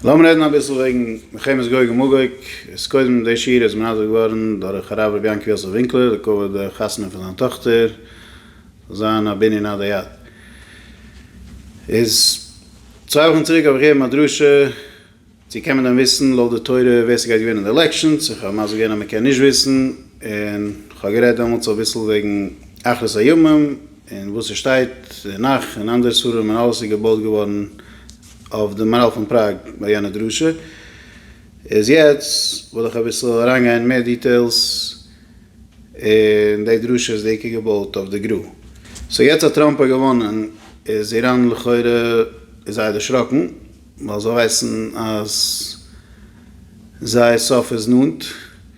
לאמיר רעדן אביסל וועגן מלחמת גוג ומגוג, איז קודם די שיעור איז מנדב געווארן דורך הרב רבי יענקל יוסף ווינקלער לכבוד די חתונה פון זיין טאכטער פון זיין א בנין עד היד, איז צוויי וואכן צוריק האב איך געגעבן א דרשה צו קען מען דען וויסן לויט די תורה ווער ס'גייט געווינען די עלעקשאנס, איך האב מסביר געווען אז מ'קען נישט וויסן, און כ'האב גערעדט דעמאלטס אביסל וועגן אחרית הימים. און וואס ס'שטייט אין נך און אנדערע ספרים און אלעס איז געבויט געווארן אויף די מאראל פון פראג ביי יענע דרשה, איז יעצט וועל איך אביסל אריינגיין מער דיטעילס און די דרשה איז בעיקר געבויט אויף די גרא. סאו יעצט אז טראמפ האט געוואנען איז איראן לכאורה איז זיי דערשראקן ווייל זיי ווייסן אז זייער סוף איז נאנט.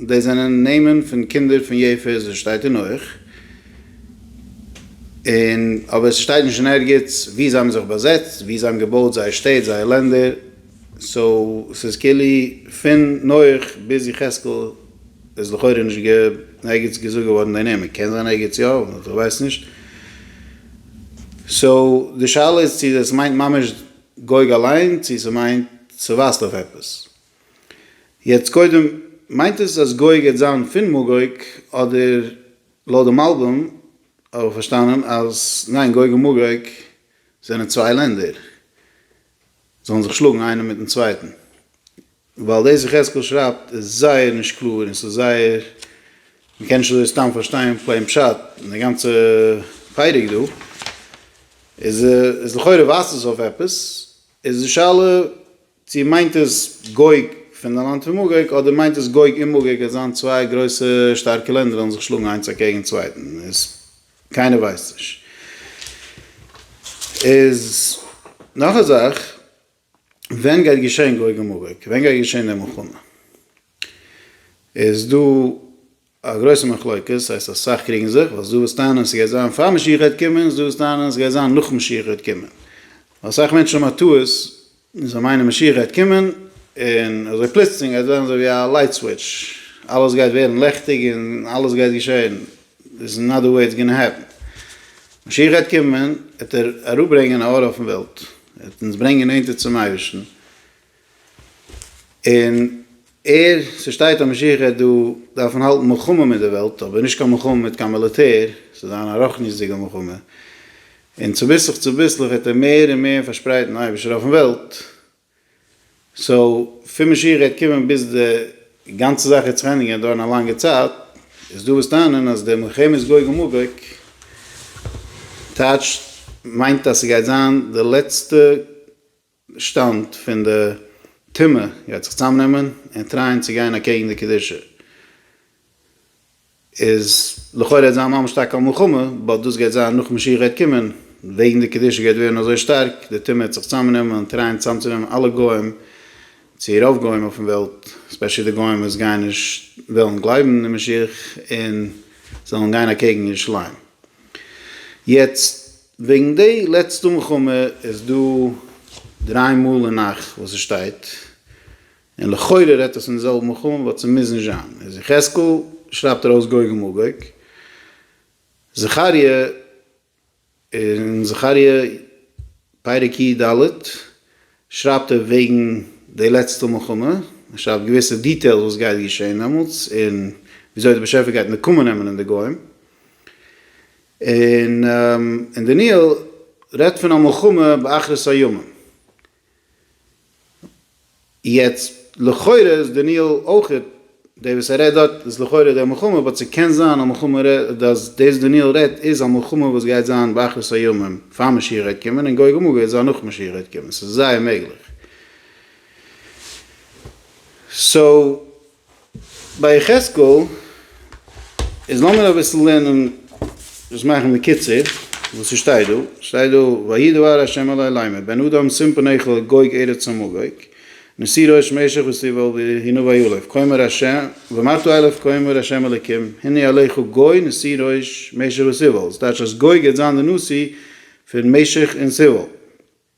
דאס זענען נעמען פון קינדער פון יעפת וואס שטייט אין נח, און אבער עס שטייט נישט אין ערגעץ וואו זיי האבן זיך באזעצט, וואו זיי האבן געבויט זייער שטעט, זייער לענדער, סאו עס איז כאילו פון נח ביז יחזקאל איז לכאורה נישט געווען ערגעץ געזאגט געווארן די נעמען, קען זיין ערגעץ יא, אבער איך ווייס נישט. סאו די שאלה איז צו דאס מיינט ממש גוג אליין צו ס'מיינט ס'ווייזט אויף עפעס, יעצט קודם, מיינט עס אז גויג העט זיין פון מאגויג אדער לויט דעם אלבום האב איך פארשטאנען אז ניין גויג און מאגויג זענען צוויי לענדער זאלן זיך שלאגן איינער מיטן צווייטן ווייל דאס יחזקאל שרייבט איז זייער נישט קלאר און ס'איז זייער מ'קען נישט אזוי סתם פארשטיין פלעין פשט און די גאנצע פרק דא איז לכאורה ווייזט עס אויף עפעס איז די שאלה צו מיינט עס גוג פון די לאנד פון מגוג, אדער מיינט עס גוג און מגוג וועט זיין צוויי גרויסע שטארקע לענדער וועלן זיך שלאגן איינס אקעגן צווייטן, איז קיינער ווייסט נישט. איז נאך א זאך, ווען גייט געשען גוג און מגוג? ווען גייט געשען די מלחמה? איז דא א גרויסע מחלוקת, הייסט אסאך קריגן זיך, ווייל ס'דא וואס טענה'ן ס'גייט זיין פאר משיח גייט קומען, ס'דא וואס טענה'ן ס'גייט זיין נאך משיח גייט קומען. ווייל אסאך מענטשן האבן א טעות און זיי מיינען משיח גייט קומען און אזוי פלוצלינג גייט ווערן אזוי ווי א לייט סוויטש, אלעס גייט ווערן לעכטיג און אלעס גייט געשען, איז נאט די וועי איטס גאנא העפן. משיח גייט קומען, עט ער אראפברענגען א אור אויפן וועלט, עט אונז ברענגען נענטער צום אייבערשטן. און ער, ס'שטייט אז משיח העט דא דארפן האלטן מלחמה מיט די וועלט, אבער נישט קיין מלחמה מיט קיין מיליטער, ס'וועט זיין א רחניות'דיגע מלחמה, און צוביסלעך צוביסלעך וועט ער מער און מער פארשפרייטן אייבישטער אויפן וועלט, סאו פון משיח העט קומען ביז די גאנצע זאך העט זיך ענדיגן גייט דויערן א לאנגע צייט, איז דא וואס טענה'ן אז די מלחמת גוג ומגוג טייטשט מיינט אז ס'גייט זיין די לעצטע שטאמט פון די טומאה יעצט זיך צוזאמנעמען און טרייען צו גיין אקעגן די קדושה איז לכאורה וועט זיין ממש טאקע א מלחמה באט דאס גייט זיין נאך משיח גייט קומען וועגן די קדושה גייט ווערן אזוי שטארק די טומאה וועט זיך צוזאמנעמען און טרייען צוזאמצונעמען אלע גוים צו רוב גוים אויפן וועלט ספעשעלי די גוים וואס גייען נישט וועלן גלייבן אין משיח און זאלן גיין אקעגן ירושלים יעצט. וועגן די לעצטע מלחמה איז דא דריי מאל אין נח וואס עס שטייט, און לכאורה רעדט עס פון די זעלבע מלחמה באט עס מוז נישט זיין, איז יחזקאל שרייבט ארויס גוג ומגוג, זכריה אין זכריה פרק י ד שרייבט ער וועגן די לעצטע מלחמה, ער שרייבט געוויסע דיטעילס וואס גייט געשען דעמאלטס און וויאזוי די באשעפער גייט נקמה נעמען אין די גוים. און און דניאל רעדט פון א מלחמה באחרית הימים. יעצט לכאורה איז דניאל אויך דער וואס ער רעדט דארט איז לכאורה דער מלחמה באט ס'קען זיין א מלחמה אז דאס דניאל רעדט איז א מלחמה וואס גייט זיין באחרית הימים פאר משיח גייט קומען און גוג ומגוג גייט זיין נאך משיח גייט קומען ס'איז זייער מעגליך. סאו ביי יחזקאל איז לאמיר אביסל לערנען דאס מאכן בקיצור וואס ס'שטייט דא, ס'שטייט דא ויהי דבר ה' אלי לאמר בן אדם שים פניך לגוג ארץ המגוג ונשא ראש משך וסביבו והנה ויולף כה אמר ה' ומה תולף כה אמר ה' אלוקים הנה עליך גוי נשא ראש משך וסביבו, ס'טייטש אז גוג גייט זיין די נשיא פון משך און סביבו.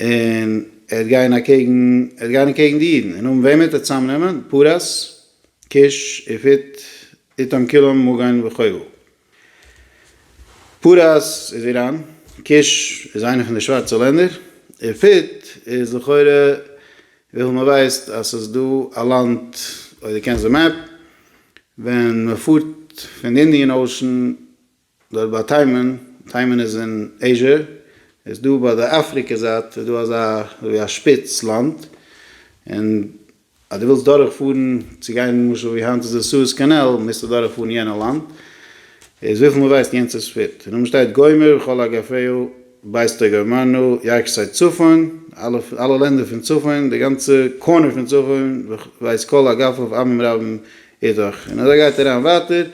און ער וועט גיין אקעגן, ער וועט גיין אקעגן די אידן, און האבן וועמען וועט ער צוזאם נעמען, פרס, כוש, איפית, איתם כולם, מגון וכו'. פרס איז איראן, כוש איז איינע פון די שווארצע לענדער, איפית איז לכאורה וויפיל מען ווייסט אז ס'איז דא א לאנד, אויב דו קענסט די מעפ, ווען מען פארט פון די אינדיען אושען דארט ביי תימן, תימן איז אין עיזשע, איז דא ביי די אפריקע זייט איז דא אזא אזויווי א שפיץ לאנד, און אז דו ווילסט דורך פארן צו גיין למשל ווי היינט איז די סועז קאנאל מוזטו דורך פארן יענע לאנד, איז וויפיל מען ווייסט יענץ איז פיט, און אויבן שטייט גומר וכל הגפהו בעשתו גמרנו, יעקב סייט צפון, אלע אלע לענדער פון צפון, די גאנצע קארנער פון צפון, ווייסט כל הגפהו עמים רבים איז דאך, און אזוי גייט אריין ווייטער,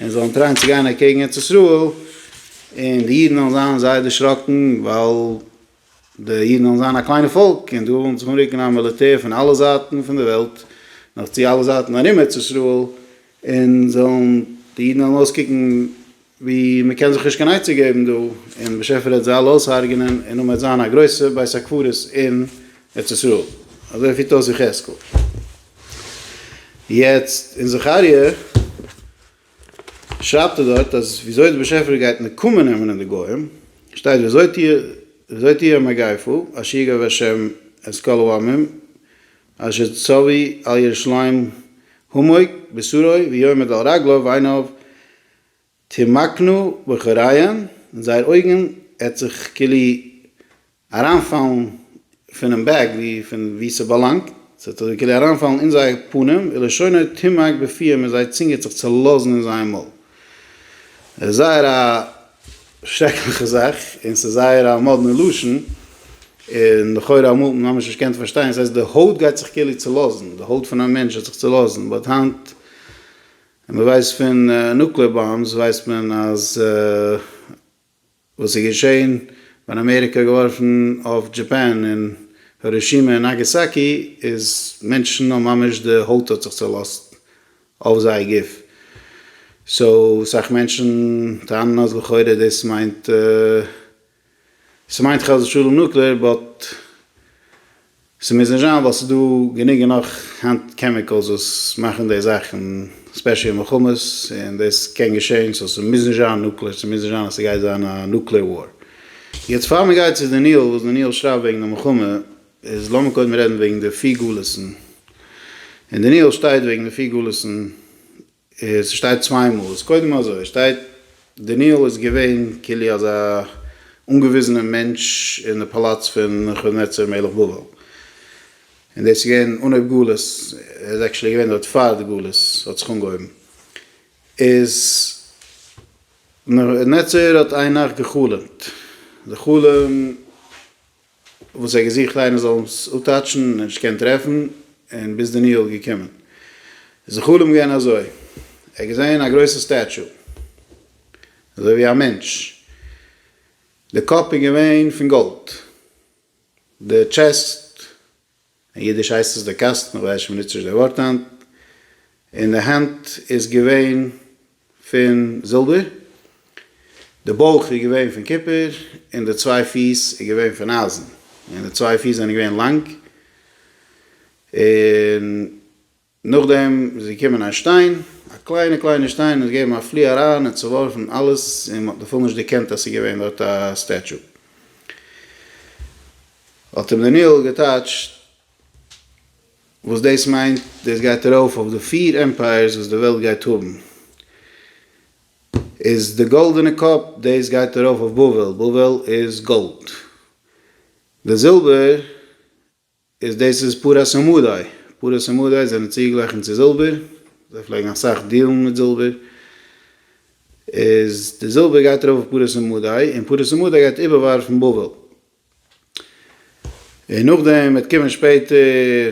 און זיי וועלן טרייען צו גיין אקעגן ארץ ישראל, און די אידן וועלן זיין זייער דערשראקן, ווייל די אידן וועלן זיין א קליינע פאלק, און דא וועלן זיך אנרוקן א מיליטער פון אלע זייטן פון די וועלט, נאך צו אלע זייטן ארום ארץ ישראל, און זיי וועלן, די אידן וועלן אויסקוקן ווי מען קען זיך נישט קיין עצה געבן דא, און באשעפער העט זיי אלע אויסהארגענען, און אויב עט זיין א גרויסע בית הקברות אין ארץ ישראל, אזוי פירט אויס יחזקאל. יעצט אין זכריה שרייבט ער דארט אז ווי אזוי דער באשעפער גייט נקמה נעמען אין די גוים, שטייט ווי אזוי טו ווי אזוי טו א מגיפה, אשר יגער השם את כל העמים אשר צווי על ירושלים המות בסורו ויעמוד על רגליו ועיניו תמקנו בחוריין, און זייער אויגן עט זיך כאילו אריינפאלן פונעם בעג ווי פון ווי ס'באלאנגט, ס'עט זיך כאילו אריינפאלן אין זייער פנים, ולשונו תמק בפיהם און זייער צונג עט זיך צעלאזן אין זייער מויל. עס איז זייער א שרעקליכע זאך, און ס'איז זייער א מאדנע לשון, און לכאורה אמאל האט מען ממש נישט געקענט פארשטיין, ס'הייסט די הויט גייט זיך כאילו צעלאזן, די הויט פון א מענטש עט זיך צעלאזן, באט היינט. און מען ווייסט פון נוקלער באמבס ווייסט מען אז וואס איז געשעהן ווען אמעריקע האט געווארפן אויף דזשאפאן און הירושימע און נאגעסאקי איז מענטשן האבן ממש די הויט האט זיך צעלאזט אויף זייער גוף סאו סאך מענטשן טענה'ן אז לכאורה דאס מיינט ס'מיינט חס ושלום נוקלעאר באט ס'מוז נישט זיין ווייל ס'איז דא גענוג און נאך היינט קעמיקעלס וואס מאכן די זאכן ספעשיל מלחמות און דאס קען געשען סאו ס'מוז נישט זיין נוקלעאר ס'מוז נישט זיין אז ס'גייט זיין א נוקלעאר וואר. יעצט פאר מ'גייט צו די ניהול וואס די ניהול שרייבט וועגן די מלחמה איז לאמיר קודם רעדן וועגן די פיר גלות'ן און די ניהול שטייט וועגן די פיר גלות'ן. עס שטייט צוויי מאל. איז קודם אזוי שטייט דניאל איז געווען כולי אזא אנגעוויזענע מענטש אין די פאלאץ פון נבוכדנצר מלך בבל און דאס איז געווען אנהויב גלות ער איז עקשעלי געווען דארט פאר די גלות האט זיך אנגעהויבן איז נבוכדנצר האט איין נאכט געחלומט די חלום וואס ער האט געזוכט איינער זאל אים אפטאטשן און נישט געקענט טרעפן און ביז דניאל איז געקומען איז די חלום געווען אזוי, ער האט געזען א גרויסע סטעטשו אזוי ווי א מענטש, די קאפ איז געווען פון גאלד, די טשעסט אין אידיש הייסט עס די קאסטן, איך ווייס נישט מ'נוצט נישט די ווארט היינט, און די הענט איז געווען פון זילבער, די בויך איז געווען פון קופער, און די צוויי פיס איז געווען פון אייזן, און די צוויי פיס זענען געווען לאנג, און. נאכדעם איז געקומען א שטיין, א קליינע קליינע שטיין, און עס געגעבן א פלי אריין און צעווארפן אלעס, און מען האט בכלל נישט דערקענט אז ס'איז געווען דארט א סטעטשו. האט אים דניאל געטייטשט וואס דאס מיינט, דאס גייט ארויף אויף די פיר עמפייערס וואס די וועלט גייט האבן, איז די גאלדענע קאפ, דאס גייט ארויף אויף בבל, בבל איז גאלד, די זילבער איז דאס איז פרס המדי, פרס המדי זענען צוגעגלייכנט צו זילבער, זיי פלעגן אסאך דיעלן מיט זילבער, איז די זילבער גייט ארויף אויף פרס המדי, און פרס המדי גייט איבערווארפן בבל, און נאכדעם וועט קומען שפעטער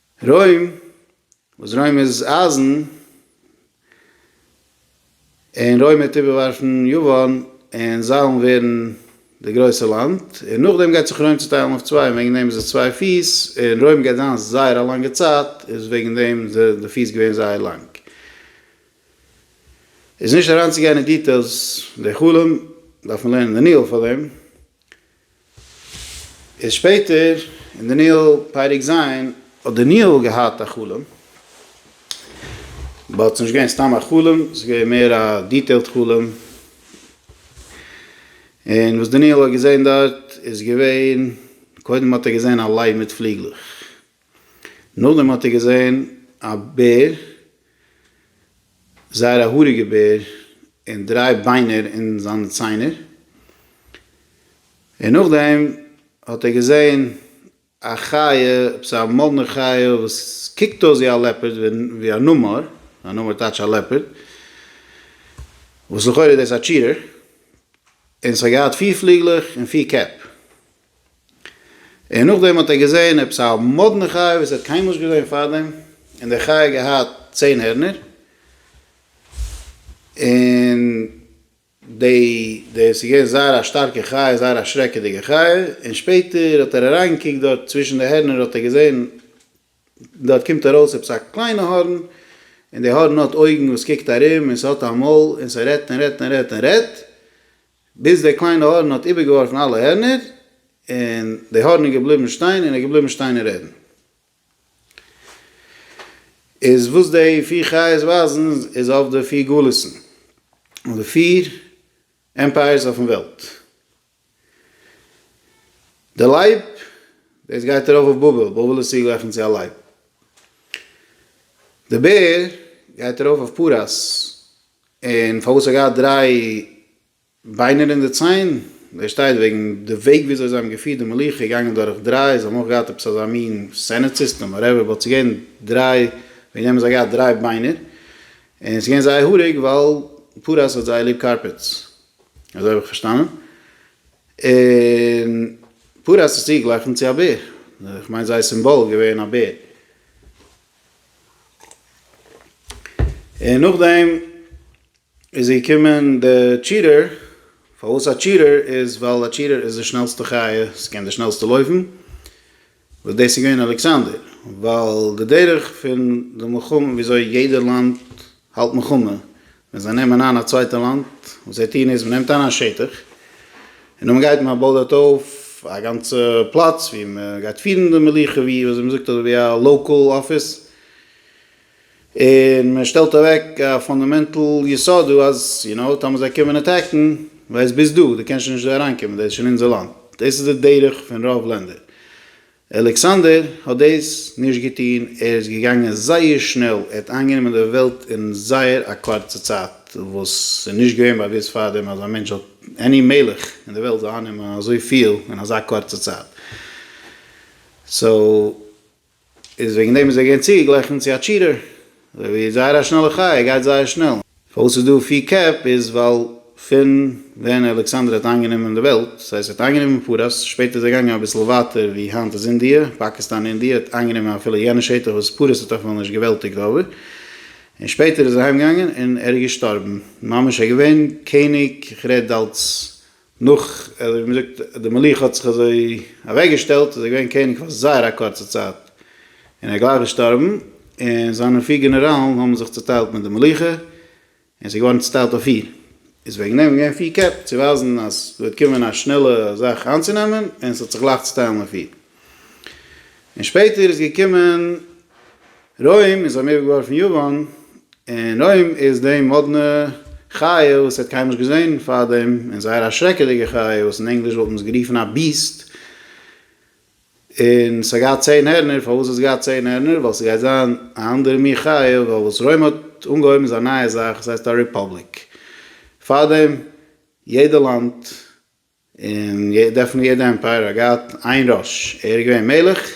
רוים, וואס רוים איז אייזן, און רוים וועט איבערווארפן יוון, און זיי וועלן ווערן די גרויסע לאנד, און נאכדעם גייט זיך רוים צוטיילן אויף צוויי, און וועגן דעם איז עס צוויי פיס, און רוים גייט זיין זייער א לאנגע צייט, איז וועגן דעם זענען די פיס געווען זייער לאנג. איז נישט אריינצוגיין אין דיטעילס די חלום, דארף מען לערנען דניאל פאר דעם, איז שפעטער אין דניאל פרק ז' האט דניאל געהאט א חלום, באט ס'נישט געווען סתם א חלום, ס'איז געווען מער א דיטעילד חלום, און וואס דניאל האט געזען דארט איז געווען, קודם האט ער געזען א לייב מיט פליגלעך, נאכדעם האט ער געזען א בער, זייער א האריגע בער, און דריי ביינער אין זיינע ציינער, און נאכדעם האט ער געזען א חיה, עפעס א מאדנע חיה וואס קוקט אויס ווי א לעפערד, ווי א נמר, א נמר טייטש א לעפערד, וואס לכאורה איז דאס א טשירער, און עס האט געהאט פיר פליגלעך און פיר קעפ. און נאכדעם האט ער געזען עפעס א מאדנע חיה וואס ער האט קיינמאל נישט געזען פארדעם, און די חיה האט געהאט צען הערנער, און די די ס'איז געווען זייער א שטארקע חיה, זייער א שרעקעדיגע חיה, און שפעטער האט ער אריין געקוקט דארט צווישן די הערנער האט ער געזען דארט קומט ארויס עפעס א קליינע הארן, און די הארן האט אויגן וואס קוקט ארום און ס'האט א מויל און ס'רעדט און רעדט און רעדט און רעדט, ביז דער קליינער האָרן האָט איבערגעוואָרפן אַלע הערנער, און דער האָרן איז געבליבן שטיין און איז געבליבן שטיין און רעדן. איז וואָס די פיר חיות ווייזן איז אויף די פיר גלות'ן, אויף די פיר עמפּייערס אויפן וועלט. דער לייב, דאָס גייט אַרויף אויף בבל, בבל איז צוגלעכענט צו אַ לייב. דער בער גייט אַרויף אויף פּרס, און פארוואס האט געהאט דריי ביינער אין די ציין? דאס שטייט וועגן די וועג ווי אזוי זיי האבן געפירט די מלוכה איז געגאנגען דורך דריי, זיי האבן אויך געהאט עפעס אזא מין סענעט סיסטעם וואטעווער, באט ס'איז געווען דריי, וועגן דעם האבן זיי געהאט דריי ביינער, און ס'איז געווען זייער האריג ווייל פרעה האט זייער ליב קארפעטס, אזוי האב איך פארשטאנען, און פרעה האט עס צוגעגליכן צו א בער, איך מיין זייער סימבאל איז געווען א בער. און נאכדעם איז געקומען די טשיטער, פארוואס א טשיטער איז ווייל א טשיטער איז די שנעלסטע חי' ס'קען די שנעלסטע לויפן, וואס דאס איז געווען אלכסנדר, ווייל די דרך פון די מלחמה וויאזוי יעדע לאנד האלט מלחמה, ווען זיי נעמען איין א צווייטע לאנד, וואס זיי טוען איז, מען נעמט איין א שטח, און נאך מען גייט מען בויט דארט אויף א גאנצע פלאץ ווי מען גייט פירן די מלוכה, ווי ווי אזוי מען זאגט אזוי ווי א לאקאל אפיס, און מען שטעלט אוועק א פאנדאמענטל יסוד דא אז יו נאו, טאמער זיי קומען אטעקן, ווייסט ביז דא, דו קענסט שוין נישט דא אריינקומען, דאס איז שוין אונזער לאנד, דאס איז די דרך פון רוב לענדער, אלעקסאנדער האט דאס נישט געטון, ער איז געגאנגען זייער שנעל, ער האט איינגענומען די וועלט אין זייער א קורצע צייט, וואס איז נישט געווען באוואוסט פארדעם אז א מענטש זאל, עני מלך אין די וועלט, זאל אייננעמען אזויפיל אין אזא קורצע צייט. סאו איז וועגן דעם איז ער געווען צוגעגליכן צו א טשיטער. אזוי ווי זייער א שנעלע חי' גייט זייער שנעל. פארוואס ס'איז דא פיר קעפ איז ווייל פון ווען אלעקסאנדער האט איינגענומען די וועלט, ס'הייסט ער האט איינגענומען פרס, שפעטער איז ער געגאנגען אביסל ווייטער ווי היינט איז אינדיע, פאקיסטאן אינדיע, ער האט איינגענומען אפילו יענע שטח וואס פרס האט אויפאמאל נישט געוועלטיגט אויבער, און שפעטער איז ער אהיימגעגאנגען און ער איז געשטארבן ממש ער איז געווען קעניג כ'רעד אלץ נאך אזוי ווי מ'זאגט די מלוכה האט זיך אזוי אוועק געשטעלט איז ער געווען קעניג פאר זייער א קורצע צייט און ער איז גלייך געשטארבן און זיינע פיר גענעראלן האבן זיך צוטיילט מיט די מלוכה און עס איז געווארן צוטיילט אויף פיר איז וועגן דעם געווען פיר קעפ צו ווייזן אז ס'וועט קומען א שנעלע זאך איינצונעמען און ס'האט זיך גלייך צוטיילן אויף פיר. און שפעטער איז געקומען רוים און זיי האבן איבערגעווארפן יוון, און רוים איז די מאדנע חיה וואס האט קיינמאל נישט געזען פארדעם, און זייער א שרעקעדיגע חיה וואס אין ענגליש וואלט מען עס גערופן א ביעסט, און ס'האט געהאט צען הערנער, פארוואס האט עס געהאט צען הערנער? ווייל ס'גייט זיין א אנדערע מין חיה, ווייל וואס רוים האט אנגעהויבן איז א נייע זאך, עס הייסט א ריפאבליק, פארדעם יעדע לאנד. און דערפון יעדע עמפייער האט געהאט איין ראש, ער איז געווען מלך,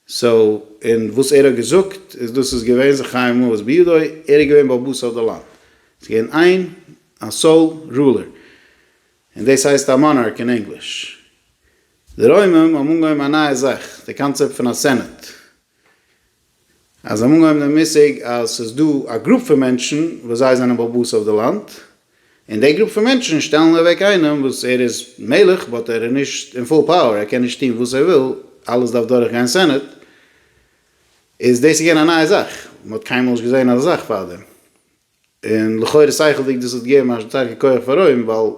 סאו און וואס ער האט געזאגט איז דאס איז געווען זיך חייב מות בידו, ער איז געווען בעל הבית אויף די לאנד, ס'איז געווען איין א סאול רולער, און דאס הייסט א מאנארק אין ענגליש. די רוימים האבן אנגעהויבן א נייע זאך, די קאנצעפט פון א סענעט. אז זיי האבן אנגעהויבן דעם מושג אז ס'איז דא א גרופ פון מענטשן וואס זיי זענען בעל בית אויף די לאנד, און די גרופ פון מענטשן שטעלן אוועק איינעם וואס ער איז מלך באט ער איז נישט אין פול פאוער, ער קען נישט טון וואס ער וויל, אלעס דארף דורך גיין סענעט, איז דאס איז געווען א נייע זאך, מ'האט קיינמאל נישט געזען אזא זאך פארדעם. און לכאורה שכל'דיג דאס האט געגעבן א שטארקע כח פאר רוים ווייל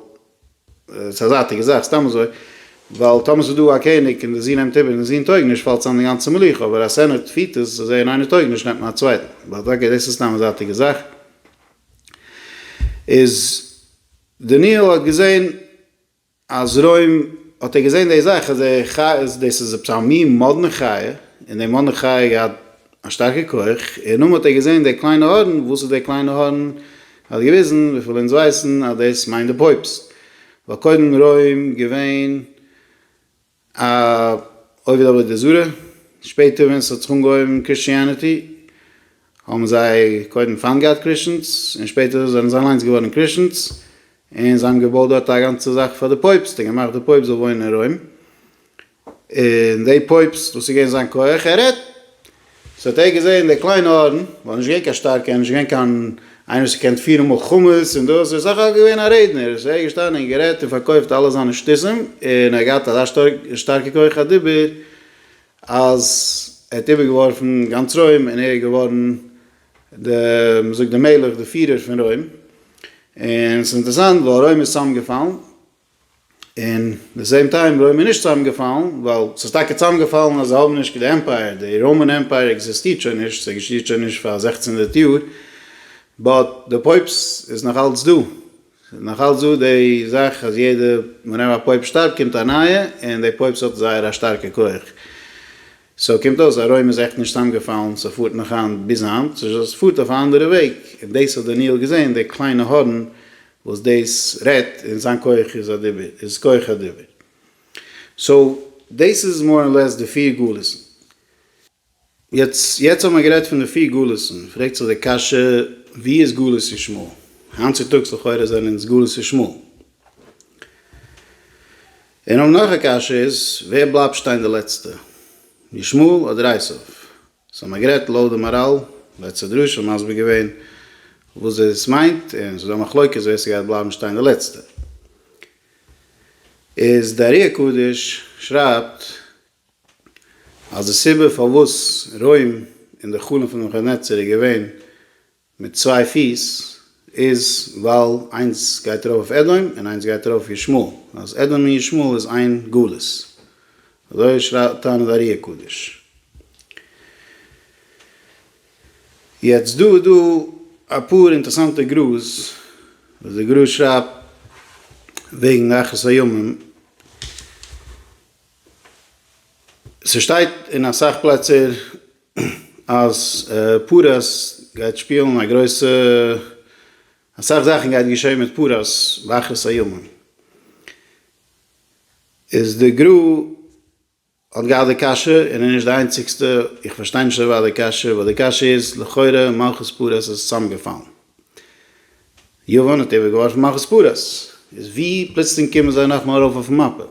ס'איז א זייטיגע זאך סתם אזוי ווייל טאמער ס'איז דא א קעניג און די זון נעמט איבער און די זון טויג נישט פאלט צאם די גאנצע מלוכה אבער אז סענעט פירט עס אזוי און איינער טויג נישט נעמט מען א צווייטן באט אקעי דאס איז סתם א זייטיגע זאך איז דניאל האט געזען. אז רוים האט ער געזען די זאך אז די חיות דאס איז עפעס א מין מאדנע חיה און די מאדנע חיה האט געהאט א שטארקע כח און נאמאל האט ער געזען די קליינע הארן וואס איז די קליינע הארן האט געוויזן וויפיל אונז ווייסן אז דאס מיינט די פויפסט ווייל קודם רוים געווען א עובד עבודה זרה, שפעטער ווען ס'האט זיך אנגעהויבן קריסטיאניטי האבן זיי קודם פיינט געהאט קריסטענס און שפעטער זענען זיי אליינס געווארן קריסטענס און זיי האבן געבויט דארט א גאנצע זאך פאר די פויבסט און געמאכט די פויבסט זאל וואוינען אין רוים און די פויבסט וואס איז געווען זיין כח ער רעדט סאו האט ער געזעהן די קליינע ארון, ווייל נישט געווען קיין שטארקע, נישט געווען קיין איינער וואס געקענט פירן מלחמות און דאס, ער איז סך הכל געווען א רעדנער, איז ער געשטאנען און גערעדט און פארקויפט אלע זיינע שטותים, און ער האט געהאט אזא שטארקע כח הדיבור, אז ער האט איבערגעווארפן גאנץ רוים, און ער איז געווארן די, מ'זאגט די מלך, די פירער פון רוים, און ס'איז אינטערעסאנט ווייל רוים איז צוזאמגעפאלן, און די סעים טיים בלוי מיר נישט צוזאם געפאלן ווייל ס'איז טאקע צוזאם געפאלן אז זיי האבן נישט די עמפייער די ראמען עמפייער עקזיסטירט שוין נישט ס'איז עקזיסטירט שוין נישט פאר זעכצן הונדערט יאר באט די פויפס איז נאך אלץ דא ס'איז נאך אלץ דא די זאך אז יעדע ווענעווער א פויפ שטארבט קומט א נייע און די פויפס האט זייער א שטארקע כח. סאו קומט אויס אז רוים איז עכט נישט צוזאמגעפאלן, ס'פארט נאך היינט ביז היינט, ס'איז דזשאסט ס'פארט אויף א אנדערע וועג, און דאס האט דניאל געזען, די קליינע הארן וואס דאס רעדט, און זיין כח איז א דיבור, איז כח הדיבור. סאו דאס איז מאר און לעס די פיר גלות'ן. יעצט יעצט האט מען גערעדט פון די פיר גלות'ן, פרעגט זיך די קשיא, ווי איז גלות ישמעאל? היינט צוטאגס לכאורה זענען אונז גלות ישמעאל. און אויב נאך א קשיא איז ווער בלייבט שטיין די לעצטע? ישמעאל אדער עשיו? סאו מען האט גערעדט לויט די מאראל, לעצטע דרשה מסביר געווען וואס דאס מיינט, און ס'איז דא א מחלוקת ווער ס'גייט בלייבן שטיין די לעצטע. איז די ארי הקדוש שרייבט אז די סיבה פארוואס רוים און די חלום פון נבוכדנצר איז געווען מיט צוויי פיס איז ווייל איינס גייט ארויף אויף אדום און איינס גייט ארויף ישמעאל אז אדום און ישמעאל איז איין גלות אזוי שרייבט טענה'ט ארי הקדוש. יעצט דא איז דא אפאר אינטערסאנטע גראז וואס די גראז שרייבט וועגן אחרית הימים. ס'שטייט אין אסאך פלעצער אז פרס גייט שפילן א גרויסע אסאך זאכן גייט געשען מיט פרס באחרית הימים איז די גרא האט געהאט די קשיא און איז נישט די איינציגסטע איך פארשטיי נישט דערווייל די קשיא ווייל די קשיא איז לכאורה מלכות פרס איז צוזאמגעפאלן יוון האט איבערגעווארפן מלכות פרס איז ווי פלוצלינג קומען זיי נאכמאל ארויף אויפן מאפע?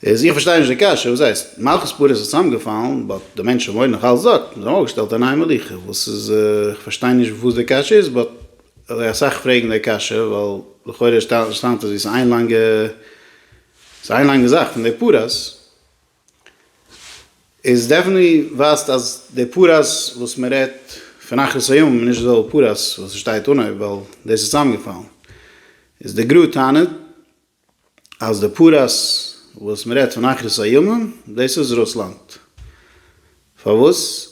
איז איך פארשטיי נישט די קשיא, וואס הייסט? מלכות פרס איז צוזאמגעפאלן באט די מענטשן וואוינען נאך אלץ דארט, זיי האבן אויפגעשטעלט א נייע מלוכה, וואס איז איך פארשטיי נישט וואס די קשיא איז באט אזוי אסאך פרעגן די קשיא ווייל לכאורה שטאמט עס ווי ס'איז איין לאנגע ס'איז איין לאנגע זאך פון די פרס איז דעפענטלי ווייזט אז די פרס וואס מען רעדט פון אחרית הימים איז נישט די זעלבע פרס וואס עס שטייט אנהויב ווייל דאס איז צוזאמגעפאלן איז די גרא טענה'ט. אז די פרס וואס מען רעדט פון אחרית הימים דאס איז רוסלאנד. פארוואס?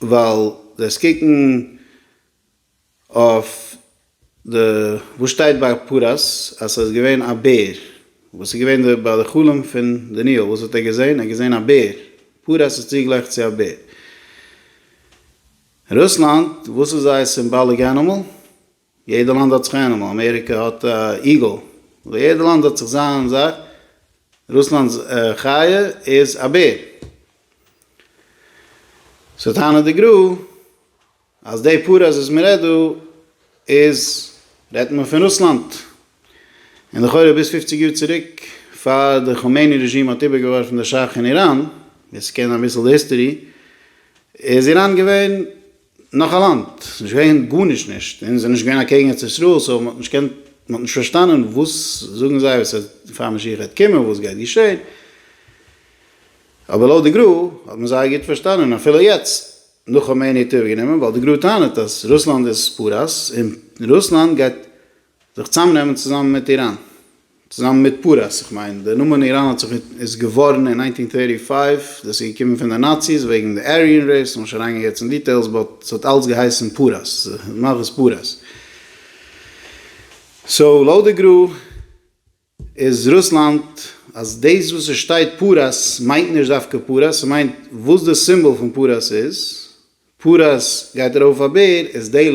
ווייל דאס קוקן אויף די וואס שטייט ביי פרס אז סאיז געווען א בער וואס איז געווען ביי די חלום פון דניאל וואס האט ער געזען? ער האט געזען א בער פרס איז צוגלייך צו א בער. רוסלאנד וואס איז זייער סימבאליק ענימעל? יעדע לאנד האט זיך ענימעל, אמעריקע האט א איגעל, אבער יעדע לאנד האט זיך זיין זאך, רוסלאנד'ס חיה איז א בער, סאו טענה'ט די גרא אז די פאראויס וואס מען רעדט דא איז רעדט מען פון רוסלאנד, און לכאורה ביז פופציג יאר צוריק פאר די חאמעני רעזשים האט איבערגעווארפן די שאך אין איראן, ווער ס'קען אביסל די היסטערי איז איראן געווען. נאך א לאנד, ס'איז נישט געווען גארנישט נישט, און ס'איז נישט געווען אקעגן ארץ ישראל, סאו מ'האט נישט געקענט, מ'האט נישט פארשטאנען וואס זאגן זיי, וואס עס, פאר משיח גייט קומען, וואס גייט געשען, אבער לויט די גרא האט מען זייער גוט פארשטאנען, און אפילו יעצט, נאך חאמעני האט איבערגענומען, ווייל די גרא טענה'ט אז רוסלאנד איז פאראויס, און רוסלאנד גייט. זיך צוזאמנעמען צוזאמען מיט איראן, צוזאמען מיט פרס, איך מיין דער נאמען איראן האט זיך איז געווארן אין ניינטין טערטי פייוו, דאס איז געקומען פון די נאציס וועגן די אריען רעיס, לאמיר נישט אריינגיין יעצט אין דיטעילס, באט ס'האט אלץ געהייסן פרס, מלכות פרס. סאו לויט די גרא. איז רוסלאנד אז דאס וואס עס שטייט פרס מיינט נישט דווקא פרס, ס'מיינט וואס די סימבאל פון פרס איז, פרס גייט ארויף אויף א בער, איז די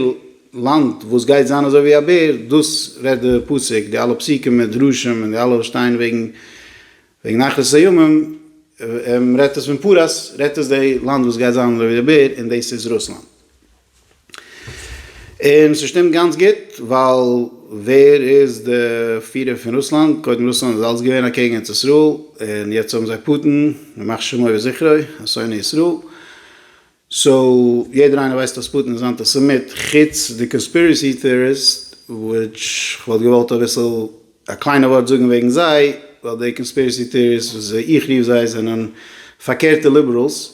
לאנד וואס גייט זיין אזוי ווי א בער, דאס רעדט די פסוק, די אלע פסוקים מיט דרושים און די אלע וואס שטייען וועגן וועגן אחרית הימים, רעדט עס פון פרס, רעדט עס די לאנד וואס גייט זיין אזוי ווי די בער, און דאס איז רוסלאנד. און ס'שטימט גאנץ גוט, ווייל ווער איז די פירער פון רוסלאנד? קודם רוסלאנד איז אלץ געווען אקעגן ארץ ישראל, און יעצט האבן זיי פוטין, ימח שמו וזכרו, א שונא ישראל. סאו יעדער איינער ווייסט אז פוטין איז אנטי סעמיט, חוץ די קאנספירעסי טעאריסט, וויטש כ'וואלט געוואלט אביסל א קליינע ווארט זאגן וועגן זיי, ווייל די קאנספירעסי טעאריסט וואס איך רוף זיי זענען פארקערטע ליבעראלס,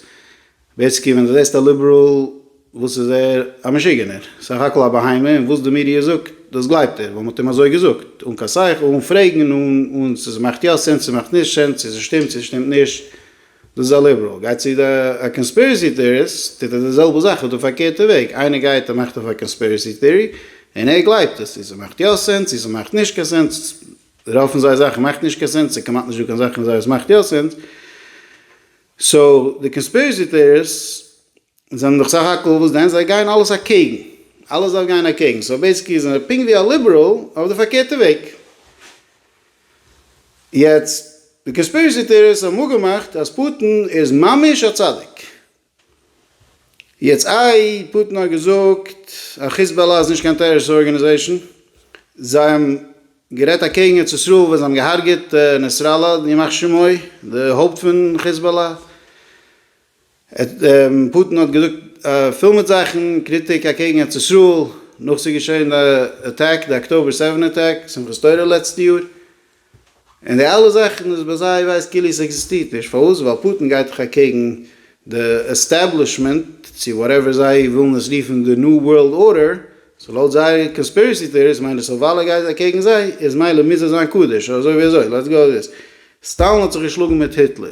ווער ס'קומט ווען דו זעסט א ליבעראל, וואס איז ער? א משוגענער, סך הכל א בהמה, און וואס די מידיע זאגט, דאס גלייבט ער, ווייל מ'האט אים אזוי געזאגט, אן קיין שכל, אן פרעגן, אן, אן צו ס'מאכט יא סענס, צו מאכט נישט סענס, צו ס'שטימט, צו ס'שטימט נישט, דאס איז א ליבעראל. גייט צו א קאנספירעסי טעאריסט, טוט ער די זעלבע זאך אויף די פארקערטע וועג, איינער גייט און מאכט אויף א קאנספירעסי טעארי, און ער גלייבט עס, צו ס'מאכט יא סענס, צו ס'מאכט נישט קיין סענס, רוב פון זייער זאכן מאכט נישט קיין סענס, ס'איז כמעט נישטא קיין זאך פון זיי וואס מאכט יא סענס, סאו די קאנספירעסי טעאריסט זענען דאך סך הכל וואס דען? זיי גייען אלעס אקעגן, אלעס דארף גיין אקעגן, סאו בעיסיקלי זענען זיי פונקט ווי א ליבעראל אויף די פארקערטע וועג. יעצט די קאנספירעסי טעאריסט האבן אפגעמאכט אז פוטין איז ממש א צדיק, יעצט איי פוטין האט געזאגט אז חיזבאללה איז נישט קיין טעראריסטישע ארגענעזעישן, זיי האבן גערעדט אקעגן ארץ ישראל ווען זיי האבן געהארגעט נעסראללא ימח שמו די הויפט פון חיזבאללה, פוטין האט געזאגט פול מיט זאכן קריטיק אקעגן ארץ ישראל נאך ס'איז געשען די אטעק די אקטאבער סעווען אטעק שמחת תורה לעצטע יאר. און די אלע זאכן איז ביי זיי ווייזט כאילו עס עקזיסטירט נישט, פארוואס? ווייל פוטין גייט דאך אקעגן די עסטעבלישמענט, צו וואטעווער זיי ווילן עס רופן, די ניו ווארלד ארדער, סאו לויט זייער קאנספירעסי טעאריס מיינט עס אז ווייל ער גייט אקעגן זיי איז מילא מוז ער זיין קדוש, אזוי ווי אזוי, לעטס גאו וויט דיס, סטאלין האט זיך געשלאגן מיט היטלער,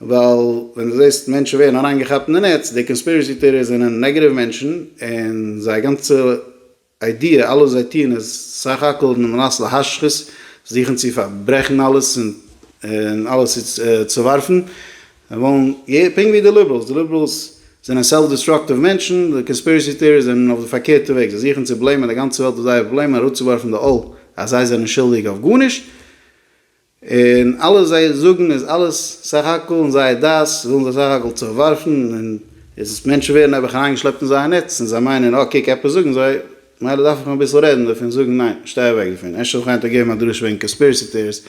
ווייל ווען דו זעסט מענטשן ווערן אריינגעכאפט אין די נעץ, די קאנספירעסי טעאריעס זענען נעגעטיוו מענטשן, און זייער גאנצע איידיע, אלעס וואס זיי טוען איז סך הכל על מנת להשחית, זוכן צו פארברעכן אלעס און אלעס צו צעווארפן, זיי ווילן, פונקט ווי די ליבעראלס, די ליבעראלס זענען סעלף דיסטראקטיוו מענטשן, די קאנספירעסי טעאריעס זענען אויף די פארקערטע וועג, זיי זוכן צו בלעימען די גאנצע וועלט אויף זייער פראבלעמען, אראפצואווארפן די עול אז זיי זענען שולדיג אויף גארנישט. און אלעס זיי זאגן איז אלעס סך הכל אין זייער דעת ווילן זיי סך הכל זיך ווארפן און איז עס מענטשן ווערן נעבעך אריינגעשלעפט אין זייער נעץ און זיי מיינען אה קוק עפעס זאגן זיי מילא דארף איך מיך אביסל רעדן דערפון זאגן ניין שטיי אוועק דערפון אפשר זאל איך היינט אפגעבן א דרשה וועגן קאנספירעסי טעאריס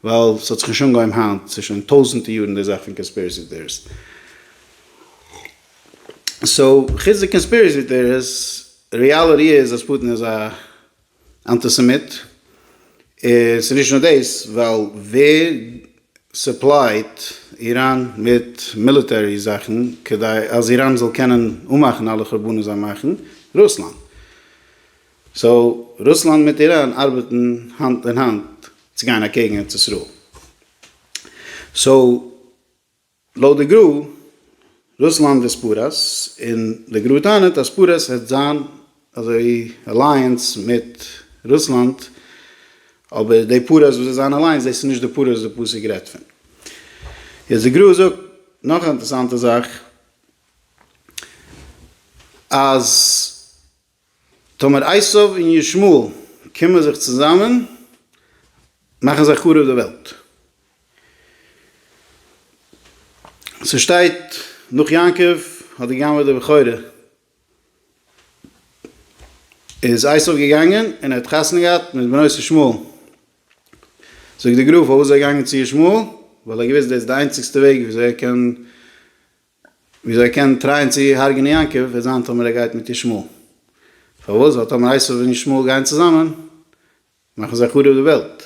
ווייל ס'האט זיך נישט אנגעהויבן היינט ס'איז שוין טויזענטע יארן די זאך פון קאנספירעסי טעאריס סאו חוץ די קאנספירעסי טעאריס ריאליטי איז אז פוטין איז א. אנטיסעמיט, און ס'איז נישט נאר דאס, ווייל ווער סופלייט איראן מיט מיליטערי זאכן כדי אז איראן זאל קענען אנמאכן אלע חורבנות זיי מאכן? רוסלאנד. סאו רוסלאנד מיט איראן ארבעטן האנט אין האנט צו גיין אקעגן ארץ ישראל. סאו. לויט די גרא, רוסלאנד איז פרס, און די גרא טענה'ט אז פרס העט זיין אזוי אלייענס מיט רוסלאנד, אבער די פרס וואס זיי זיין אלייענס דאס איז נישט די פרס וואס די פסוק רעדט פון. יעצט די גרא זאגט נאך א אינטערסאנטע זאך, אז. טאמער עשיו און ישמעאל קומען זיך צוזאמען מאכן זיי חרוב די וועלט. ס'שטייט נאך יעקב האט גע'גנב'עט די בכורה איז עשיו געגאנגען און ער האט חתונה געהאט מיט בנות ישמעאל. זאגט די גרא פארוואס איז ער געגאנגען צו ישמעאל? ווייל ער האט געוואוסט דאס איז די איינציגסטע וועג וויאזוי ער קען וויאזוי ער קען טרייען צו הרג'נען יעקב וועט זיין טאמער ער גייט מיט ישמעאל. פארוואס? ווייל טאמער עשו און ישמעאל גייען צוזאמען מאכן זיי חרוב די וועלט.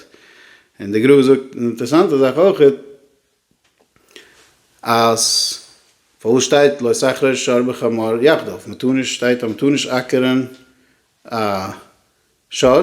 און די גרא זאגט אן אינטערעסאנטע זאך אויכעט אז פארוואס שטייט לא סכרר שור בחמור יחדיו? מ'טאר נישט שטייט אז מ'טאר נישט אקערען א שור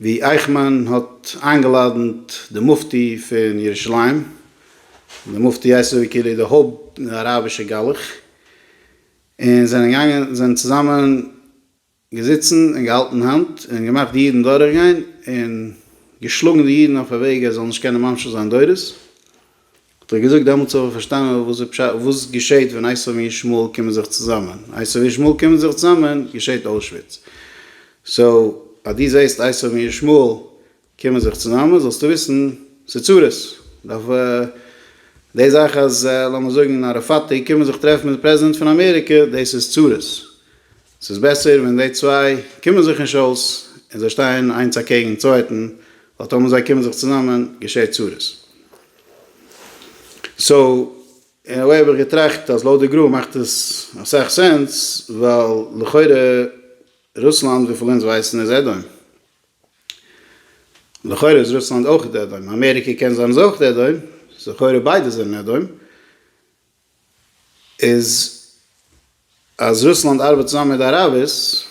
ווי אייכמאן האט איינגעלאדענט די מופטי פון ירושלים, די מופטי הייסט אזוי כאילו די הויפט אראבישע גלח, און זענען געגאנגען זענען צוזאמען געזיצן און געהאלטן האנט און געמאכט די אידן דורכגיין און געשלאגן די אידן אויף א וועג אז זאל נישט קענען ממשיך זיין דורות. האט ער געזאגט דעמאלטס האב איך פארשטאנען וואס איז פשט וואס געשעהט ווען עשיו און ישמעאל קומען זיך צוזאמען עשיו און ישמעאל קומען זיך צוזאמען געשעהט אוישוויץ סאו אז דו זעהסט עשיו און ישמעאל קומען זיך צוזאמען זאלסטו וויסן ס'איז צרות דארף די זאך אז לאמיר זאגן אראפאט קומען זיך טרעפן מיט די פרעזידענט פון אמעריקע דאס איז צרות ס'איז בעסער ווען די צוויי קומען זיך נישט אויס און זיי שטייען איינס אקעגן צווייטן, ווייל טאמער זיי קומען זיך צוזאמען געשעט צרות. סאו אין א וועי האב איך געטראכט אז לויט די גרא מאכט עס אסאך סענס, ווייל לכאורה רוסלאנד וויפיל אונז ווייסן איז עדעם, לכאורה איז רוסלאנד אויך עדעם, אמעריקע קען זיין איז אויך עדעם, סאו לכאורה ביידע זענען עדעם, איז אז רוסלאנד ארבעט צוזאמען מיט די אראבערס,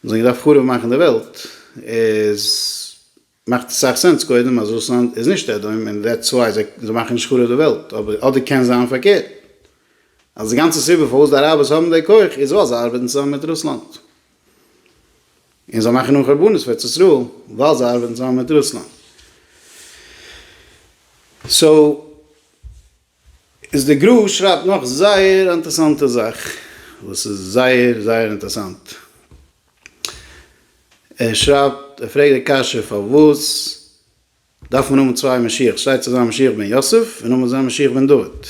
זיי האבן געדארפט חרוב מאכן די וועלט, איז מאכט אסאך סענס קודם אז רוסלאנד איז נישט עדום און דעטס וויי זיי מאכן נישט חרוב די וועלט, אבער אדער קען זיין פארקערט אז די גאנצע סיבה פארוואס די אראבערס האבן די כח איז ווייל זיי ארבעטן צוזאמען מיט רוסלאנד און זיי מאכן אן חרבנות פאר ארץ ישראל ווייל זיי ארבעטן צוזאמען מיט רוסלאנד. סאו. איז די גרא שרייבט נאך זייער אנטערסאנטע זאך וואס איז זייער זייער אינטערסאנט ער שרייבט ער פרעגט די קשיא פארוואס דארף מען האבן צוויי משיח שטייט צו זיין משיח בן יוסף און נאמאן זיין משיח בן דוד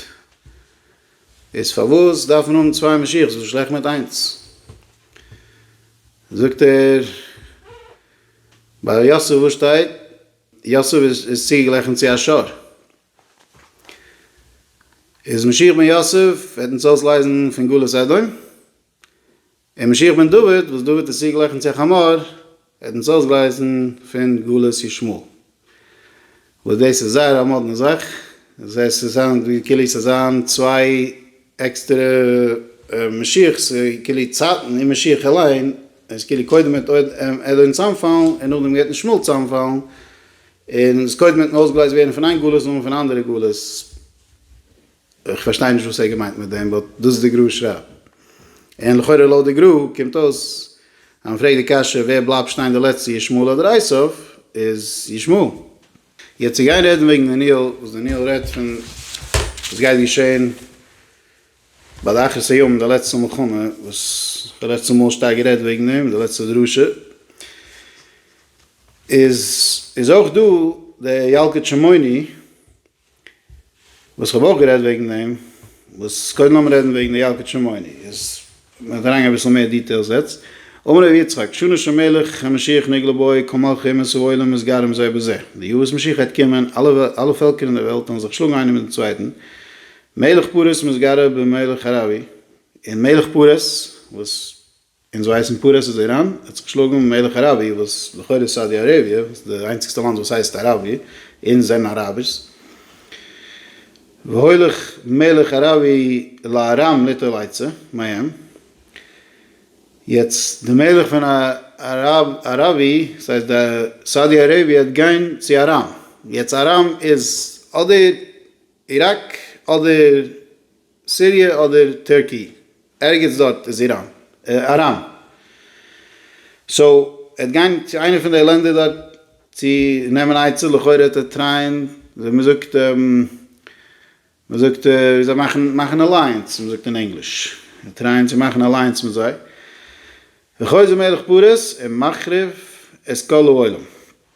איז פארוואס דארף מען האבן צוויי משיח וואס איז שלעכט מיט איינס זאגט ער ביי יוסף וואס שטייט יוסף איז צוגעלעכענט צו א שר. איז משיח בן יוסף וועט אונז אויסלייזן פון גלות אדום, און משיח בן דוד וואס דוד איז צוגלעכענט צו א חמור וועט אונז אויסגלייזן פון גלות ישמעאל, וואס דאס איז זייער א מאדנע זאך, דאס הייסט עס זענען כאילו ס'זיין צוויי עקסטערע משיח'ס כאילו צייטן און משיח אליין איז כאילו קודם מיט אדון צאמפאלן און נאכדעם גייט מיט שמאל צאמפאלן און איז קודם מיטן אויסגלייזט ווערן פון איין גלות און פון אנדערע גלות איך פארשטיי נישט וואס ער געמיינט מיט דעם באט דאס איז די גרא שרייבט און לכאורה לויט די גרא קומט אויס אז מ'פרעגט די קשיא ווער בלייבט שטיין די לעצטע ישמעאל אדער עשיו איז ישמעאל. יעצט צו גיין רעדן וועגן דניאל, וואס דניאל רעדט פון וואס גייט געשען ביי די אחרית הימים, די לעצטע מלחמה, וואס איך האב לעצטע מאל שטארק גערעדט וועגן דעם אין די לעצטע דרשה, איז איז אויך דא די ילקוט שמעוני, וואס כ'האב אויך גערעדט וועגן דעם, וואס קודם לאמיר רעדן וועגן די ילקוט שמעוני, איז מ'וועט אריינגיין אביסל מער דיטעילס יעצט, אמר ר' יצחק, שנה שמלך המשיח נגלה בו, כל מלכי אומות העולם מסגרים זה בזה, די יאר וואס משיח העט קומען, אלע פעלקער אין דער וועלט וועלן זיך שלאגן איינער מיט דעם צווייטן, מלך פרס מסגרה במלך ארמי, און מלך פרס וואס אונז ווייסן פרס איז איראן, ער האט זיך געשלאגן מלך אראביע וואס לכאורה איז סאודי אראביע, וואס איז די איינציגסטע לאנד וואס הייסט אראביע, אונז זענען אראבערס. והולך מלך אראביע לארם ליטול עצה מהם. יעצט די מלך פון אראביע, ס'הייסט די סאודי אראביע האט גיין צו ארם, יעצט ארם איז אדער איראק אדער. סיריע אדער טערקי, ערגעץ דארט איז איראן אריין, סאו ער וועט גיין צו איינע פון די לענדער דארט צו נעמען עצה, לכאורה וועט ער טרייען ווי מען זאגט מען זאגט ווי זיי מאכן מאכן אלייענס ווי מען זאגט אין ענגליש, טרייען צו מאכן אלייענס מיט זיי, וחוזר מלך פרס און מחריב את כל העולם.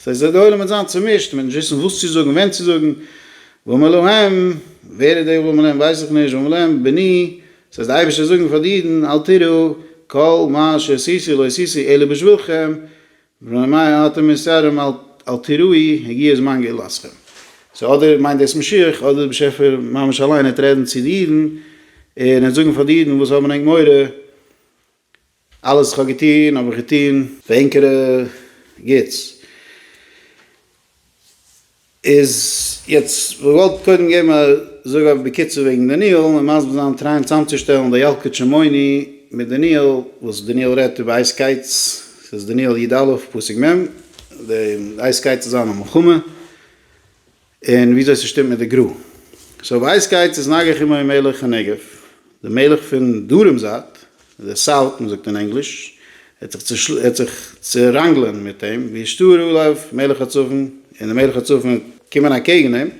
ס'הייסט וועט די עולם מיט זיין צומישט, מ'וועט נישט וויסן וואס צו זאגן, ווען צו זאגן, ואומר להם, ווער איז דער ואומר להם ווייס איך נישט, ואומר להם, בני, ס'הייסט די אייבערשטער זאגן פאר די אידן, אל תיראו, כל מה שעשיתי לא עשיתי אלא בשבילכם, מפני מה יראתם מיסורים, אל תיראי, הגיע זמן גאולתכם. סאו אדער מיינט דאס משיח, אדער דער באשעפער ממש אליין וועט רעדן צו די אידן, און ער וועט זאגן פאר די אידן וואס האבן ענק מורא, אלעס איך האב געטון האב איך געטון. ווען קר י גוטס איז יעצט געוואלט קודם געבן א זאג אויף בקיצור וועגן דניאל און מסביר זיין טרייען צאמצושטעלן די ילקוט שמעוני מיט דניאל וואס דניאל רעדט איבער אייז קייטס ס'איז דניאל י ד פסוק מ' די אייז קייטס איז זיין א מלחמה. און וויאזוי ס'שטימט מיט די גרא. סאו ווייס גייטס איז נגח עמו מלך הנגב, די מלך פון דרום זייט, די סאוט מען זאגט אין ענגליש, ער וועט זיך צעראנגלען מיט אים, וישתור עליו מלך הצפון, און די מלך הצפון וועט קומען אקעגן אים,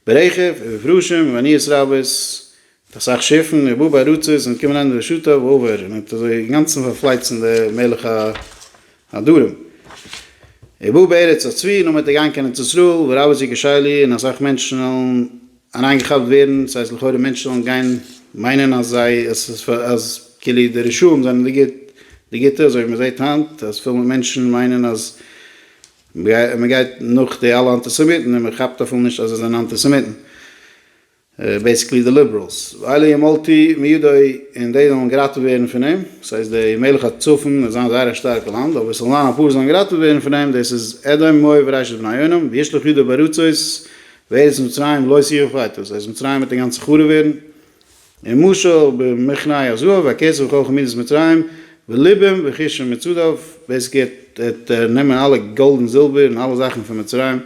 ברכב ובפרושים ובעניות רבות, אסאך שיפן און באבע ארצות זענען געקומען אריין אין רשותיו אווער און האט אזוי אינגאנצן פארפלייצן די מלך הדרים און באבע ארץ האט צוויי נאמען צו גיין קיין ארץ ישראל וואו רבי זי געשעלי און אסאך מענטשן וועלן אריינגעכאפט ווערן ס'הייסט לכאורה מענטשן וועלן גיין מיינען אז זיי אז כאילו די רשעים זענען די גוט די גוטע אזוי ווי מ'זעהט היינט אז פיל מענטשן מיינען אז מ'גייט נאך די אלע אנטיסעמיטן און מ'כאפט אפילו נישט אז זיי זענען אנטיסעמיטן. בעיסיקלי די ליבעראלס, ווייל אי מלתי מידו און די זאלן געראטעוועט ווערן פון אים, ס'הייסט די מלך הצפון וועט זיין זייער א שטארקע לאנד, אבער ס'זאלן זיין אפאר זאלן געראטעוועט ווערן פון אים, דאס איז אדום מואב וראשית בני ארם, וישלח ידו בארצות, וארץ מצרים לא יסירו פייטות, ס'הייסט מצרים וועט אינגאנצן חרוב ווערן, און משל במכניי הזהב והכסף וכל חמידת מצרים בלבם וכישם מצודיו, בעיסיקלי ער וועט נעמען אלע גאלד און זילבער און אלע זאכן פון מצרים,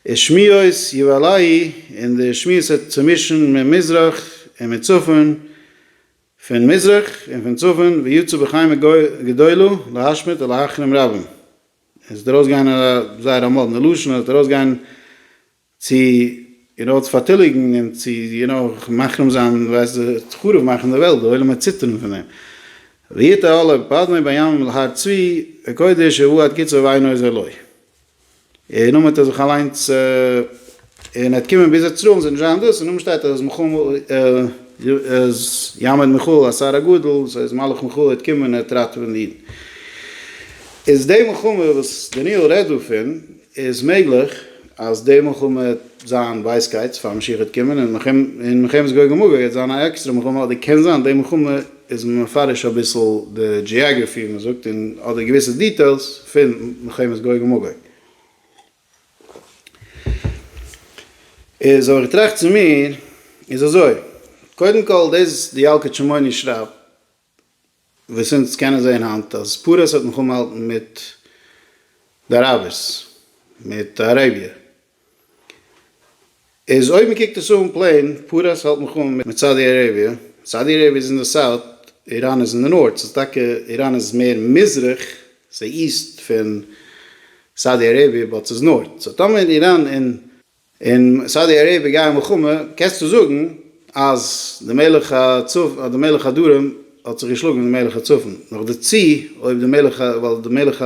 איז שמועס יואלאי און די שמועס האט צומישן ממזרח און מצפון פון מזרח און פון צפון ויצאו בחיימא גדולה להשמיד ולהחרים רבים עס וועט ארויסגיין א זייער א מאדנע לשון עס וועט ארויסגיין צו און אויס פארטיליגן און צו יו נאו מחרים זיין ווייסט די חרוב מאכן די וועלט די עולם וועט ציטערן פון דעם ויתעלה פזמון בימים להר צבי הקודש ובואת קצה ועין עוז אלוהי. און אויב האט ער זיך אליינס און ער האט קומען ביז אצר'ן זאל נישט זיין דאס און אויבן שטייט אז אז יעמוד מחול השר הגדול סאו איז מלאך מחול האט קומען האט ראטעווען אידן איז די מלחמה וואס דניאל רעדט דערפון איז מעגליך אז די מלחמה האט זיין ווייס גייטס פאר משיח האט קומען און מלחמת גוג ומגוג האט זיין א עקסטערע מלחמה אדער קען זיין די מלחמה איז מען מפרש אביסל די דזשיאגרעפי ווי מען זאגט און אדער געוויסע דיטעילס פון מלחמת גוג ומגוג. איז אבער איך טראכט צו מיר איז אזוי, קודם כל דאס די ילקוט שמעוני שרייבט וואס אונז קענען זען היינט אז פרס האט מיך אנמאלטן מיט די אראבערס מיט אראביע. איז אויב מען קוקט עס אן פלעין, פרס האלט מיך אן מיט סאודי אראביע, סאודי אראביע איז אין די סאוט, איראן איז אין די נארט, ס'איז טאקע איראן איז מער מזרח, ס'איז איסט פון סאודי אראביע באט ס'איז נארט, סאו טאמער איראן און. און סאודי אראביע גייען מלחמה, קענסטו זאגן אז די מלך הצפון, אז די מלך הדרום האט זיך געשלאגן מיט די מלך הצפון, נאכדערצו אויב די מלך, ווייל די מלך.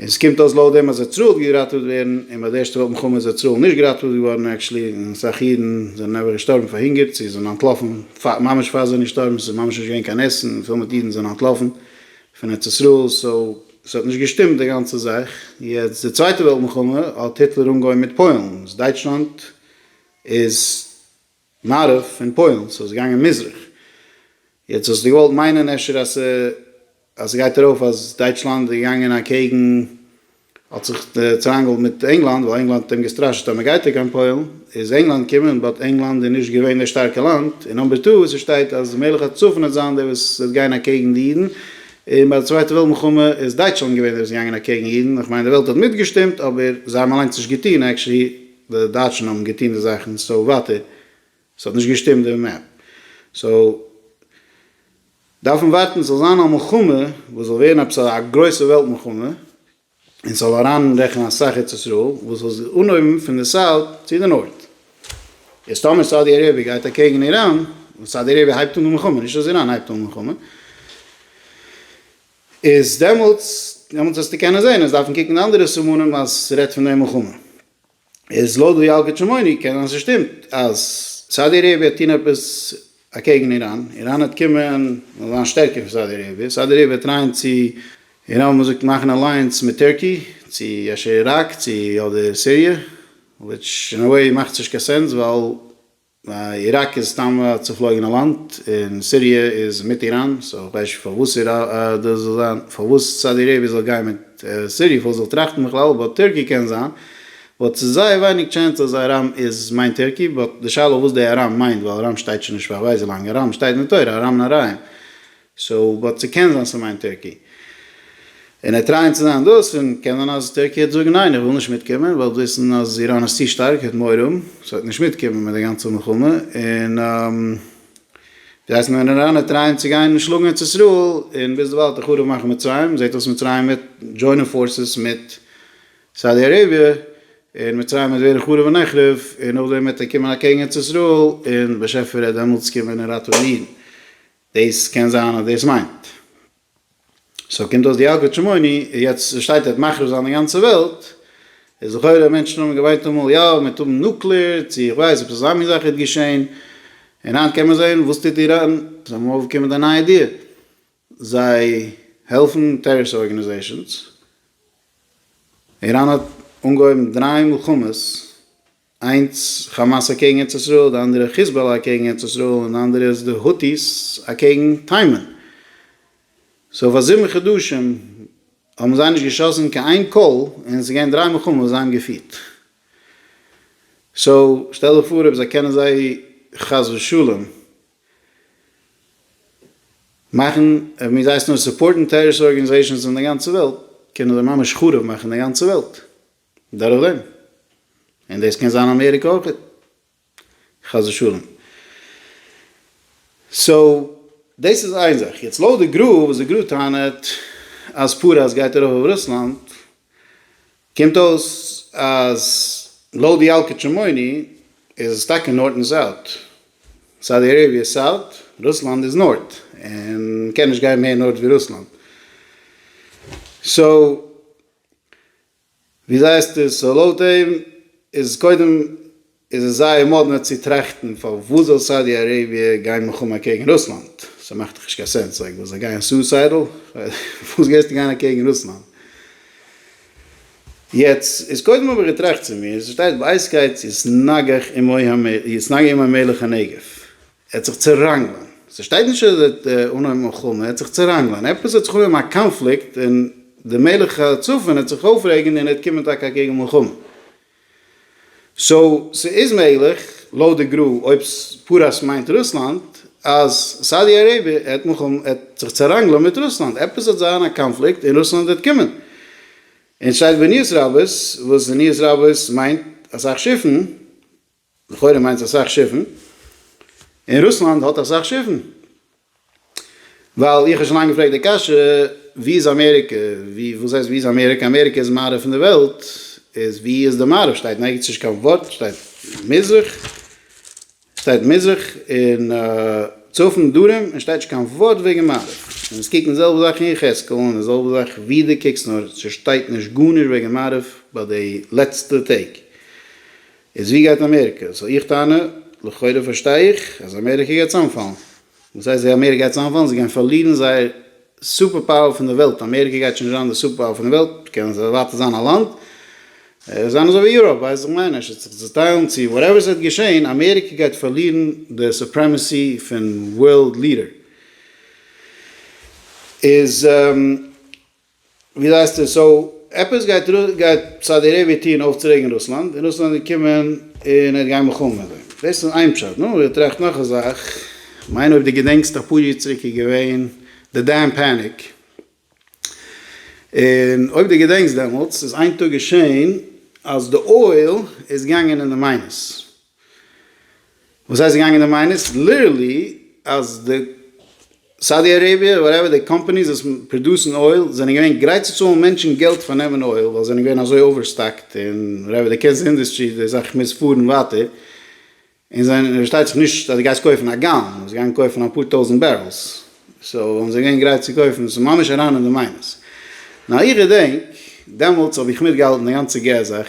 און ס'קומט אויס לויט דעם אז אוצרות געראטעוועט ווערן, און ביי די ערשטע וועלט מלחמה איז אוצראל נישט געראטעוועט געווארן עקשלי, און אסאך אידן זענען אייביג געשטארבן פאר הונגער, צו זענען אנטלאפן ממש פאר זיי נישטארבן, ס'איז ממש נישט געווען קיין עסן, און פיל מיט אידן זענען אנטלאפן פון ארץ ישראל, סאו ס'האט נישט געשטימט די גאנצע זאך, יעצט די צווייטע וועלט מלחמה האט היטלער אנגעהויבן מיט פוילן, איז דייטשלאנד איז. מערב און פוילן, סאו ס'איז געגאנגען מזרח. יעצט האסטו געוואלט מיינען אפשר אז אז ס'גייט ארויף אז דייטשלאנד איז געגאנגען אקעגן, האט זיך צוריינגעהאלט מיט ענגלאנד ווייל ענגלאנד האט אים געסטראשעט אז מ'גייט ער קיין פוילן איז ענגלאנד געקומען באט ענגלאנד איז נישט געווען די שטארקע לאנד, און נאמבער טו וואו ס'שטייט אז מלך הצפון וועט זיין דער וואס וועט גיין אקעגן די אידן, און ביי די צווייטע וועלט מלחמה איז דייטשלאנד געווען דער וואס איז געגאנגען אקעגן אידן, איך מיין די וועלט האט מיטגעשטימט אבער זיי האבן אליינס נישט געטון עקשעלי. די דייטשן האבן געטון די זאכן סאו וואט איט האט נישט געשטימט די מעפ סאו דארפן ווארטן ס'זאל זיין א מלחמה וואס זאל ווערן עפעס א גרויסע וועלט מלחמה און ס'זאל אריין רעכענען אסאך ארץ ישראל וואס זאל זיך אנהויבן פון די סאוט צו די נארט איז טאמער סאודי אראביע גייט אקעגן איראן און סאודי אראביע הייבט אן די מלחמה נישט אז איראן הייבט אן מלחמה. איז דעמאלטס דעמאלטס וועסטו קענען זען אז דארפן קוקן אנדערע סימנים אז ס'רעדט פון די מלחמה. איז לויט ווי ילקוט שמעוני קען זיין ס'שטימט אז סאודי אראביע וועט טון עפעס אקעגן איראן, איראן וועט קומען און זיין שטערקער פון סאודי אראביע, סאודי אראביע וועט טרייען צו איראן ווי מ'זאגט מאכן אלייענס מיט טערקי צו אפשר איראק צו אדער סיריע וויטש אין א וועי מאכט נישט קיין סענס ווייל. איראק איז סתם א צופלויגענע לאנד, און סיריע איז מיט איראן, סאו כ'ווייס נישט פארוואס דאס זאל זיין, פארוואס סאודי אראביע זאל גיין מיט סיריע, פארוואס זאל טראכטן בכלל, באט טערקי קען זיין, באט ס'איז זייער ווייניג טשענס אז ארם איז מיינט טערקי, באט די שאלה וואס די ארם מיינט, ווייל ארם שטייט שוין נישט פאר כ'ווייס ווי לאנג, ארם שטייט אין די תורה, ארם נהריים. סאו באט ס'קען זיין ס'מיינט טערקי. און ער טרייען צו זיין דאס און קען זיין אז טערקי העט זאגן ניין איך וויל נישט מיטקומען ווייל וויסן אז איראן איז צו שטארק העט מורא האבן סאו העט נישט מיטקומען מיט די גאנצע מלחמה און די הייסט נאר איראנער טרייען צו גיין שלאגן ארץ ישראל און ביזדערווייל האט ער חרוב מאכן מצרים זעהט אויס מצרים מיט דזשוינען פארסעס מיט סאודי אראביע און מצרים וועט ווערן חרוב ונחרב און נאכדעם העט ער קומען אקעגן ארץ ישראל און באשעפער העט דעמאלטס קומען און ראטעווירן. דאס קען זיין אז דאס מיינט. סאו קומט אויס די אגרת שמעוני איז יעצט שטייט ער האט מחריב זיין די גאנצע וועלט, איז לכאורה מענטשן האבן געוויינט אמאל יא מיט האבן נוקלער צו איך ווייס עפעס אזא מין זאך איז געשעהן, און היינט קען מען זעהן וואס טוט איראן, זיי האבן אויפגעקומען מיט א נייע דיעל, זיי העלפן טעראריסט ארגענעזעישאנס, איראן האט אנגעהויבן דריי מלחמות, איינס כאמאס אקעגן ארץ ישראל, די אנדערע חיזבאלא אקעגן ארץ ישראל, און די אנדערע איז די הוטיס אקעגן תימן. סאו פאר זיבן חדשים האבן זיי נישט געשאסן קיין איין קול, און עס איז געווען דריי מלחמות וואס זיי האבן געפירט. סאו שטעל דיך פאר אויב זיי קענען זיי חס ושלום מאכן, אויב מיר זיי עס נאר סופארטן טעראריסט ארגענעזעישאנס אין די גאנצע וועלט, קענען זיי ממש חרוב מאכן די גאנצע וועלט. דורך דעם. און דאס קען זיין אמעריקע אויך. חס ושלום. סאו, דאס איז איין זאך. יעצט לויט די גרא, וואס די גרא טענה'ט אז פרס גייט ארויף אויף רוסלאנד, קומט אויס אז לויט די אלקי צ'מוני איז עס טאקע נארט און סאוט. סאודי אראביע איז סאוט, רוסלאנד איז נארט. און קען נישט גיין מער נארט ווי רוסלאנד. סאו, ווי זעהסטו עס? סאו לויט דעם איז קודם איז עס זייער מאדנע צו טראכטן פארוואס זאל סאודי אראביע גיין מלחמה אקעגן רוסלאנד? ס'מאכט דאך נישט קיין סענס, לייק וואס זיי גייען סוסיידעל? פארוואס גייסטו גיין אקעגן רוסלאנד? יעצט איז קודם האב איך געטראכט צו מיר, ס'שטייט באיז קייט יתנגח עמו המלך הנגף. ער האט זיך צעראנגלען, ס'שטייט נישט אז ער האט אנגעהויבן מלחמה, ער האט זיך צעראנגלען, עפעס האט זיך אנגעהויבן א קאנפליקט און די מלך הצפון האט זיך אויפרעגענד און ער האט קומען טאקע אקעגן מלחמה. סאו ס'איז מעגליך, לויט די גרא, אויב פרס מיינט רוסלאנד, אז סאודי אראביע האט מלחמה, האט זיך צעראנגלען מיט רוסלאנד, עפעס האט זיין א קאנפליקט און רוסלאנד האט קומען, און ס'שטייט בעניות רבות, וואס בעניות רבות מיינט אסאך שיפן, לכאורה מיינט עס אסאך שיפן, און רוסלאנד האט אסאך שיפן, ווייל איך האב שוין לאנג געפרעגט די קשיא, ווי איז אמעריקע, ווי, וואס הייסט ווי איז אמעריקע, אמעריקע איז מערב פון די וועלט, איז ווי איז די מערב, שטייט נערגעץ נישט קיין ווארט, שטייט מזרח, שטייט מזרח און צפון דרום, און שטייט נישט קיין ווארט וועגן מערב, און אונז קוקן די זעלבע זאך אין יחזקאל, און די זעלבע זאך ווי דו קוקסט, נאר ס'שטייט נישט גארנישט וועגן מערב ביי די לעצטע טעג, איז ווי גייט אמעריקע? סאו איך טענה, לכאורה פארשטיי איך, אז אמעריקע גייט צאמפאלן. וואס הייסט זיי אמעריקע גייט צאמפאלן? זיי גייען פארלירן זייער סופער פאוער פון די וועלט. אמעריקע גייט שוין נישט זיין די סופער פאוער פון די וועלט, קען זיי ווייטער זיין א לאנד, זיין אזוי ווי יוראפ, ווייסט זיך מיין, עס וועט זיך צוטיילן צו וואטעווער ס'וועט געשען, אמעריקע גייט פארלירן די סופרעמעסי פון ווארלד ליעדער. איז. ווי זעסטו? סאו עפעס גייט גייט סאודי אראביע טוהן אויפצורעגן רוסלאנד, און רוסלאנד וועט קומען און ער וועט גיין מלחמה מיט זיי. דאס איז איין פשט. נו, איך טראכט נאך א זאך. כ'מיין אויב דו געדענקסט אפאר יאר צוריק איז געווען די דעם פעניק, און אויב דו געדענקסט דעמאלטס איז איין טאג געשעהן אז די אויל איז געגאנגען אין די מיינוס. וואס הייסט געגאנגען די מיינערס? ליטערלי אז די סאודי אראביע וואטעווער די קאמפאניס וואס פראדוסן אויל זענען געווען גרייט צו צאלן מענטשן געלט פאר נעמען אויל ווייל זיי זענען געווען אזוי אווערסטאקט און וואטעווער די קענסט די אינדוסטרי די זאך מוז פארן ווייטער און זיי פארשטייט זיך נישט אז די גייסט קויפן א גאלאן זיי גייען קויפן אפאר טויזענט בערעלס סאו וואלן זיי געווען גרייט צו קויפן סאיז ממש אריין אין די מיינערס נאר איך געדענק דעמאלטס האב איך מיטגעהאלטן די גאנצע געז זאך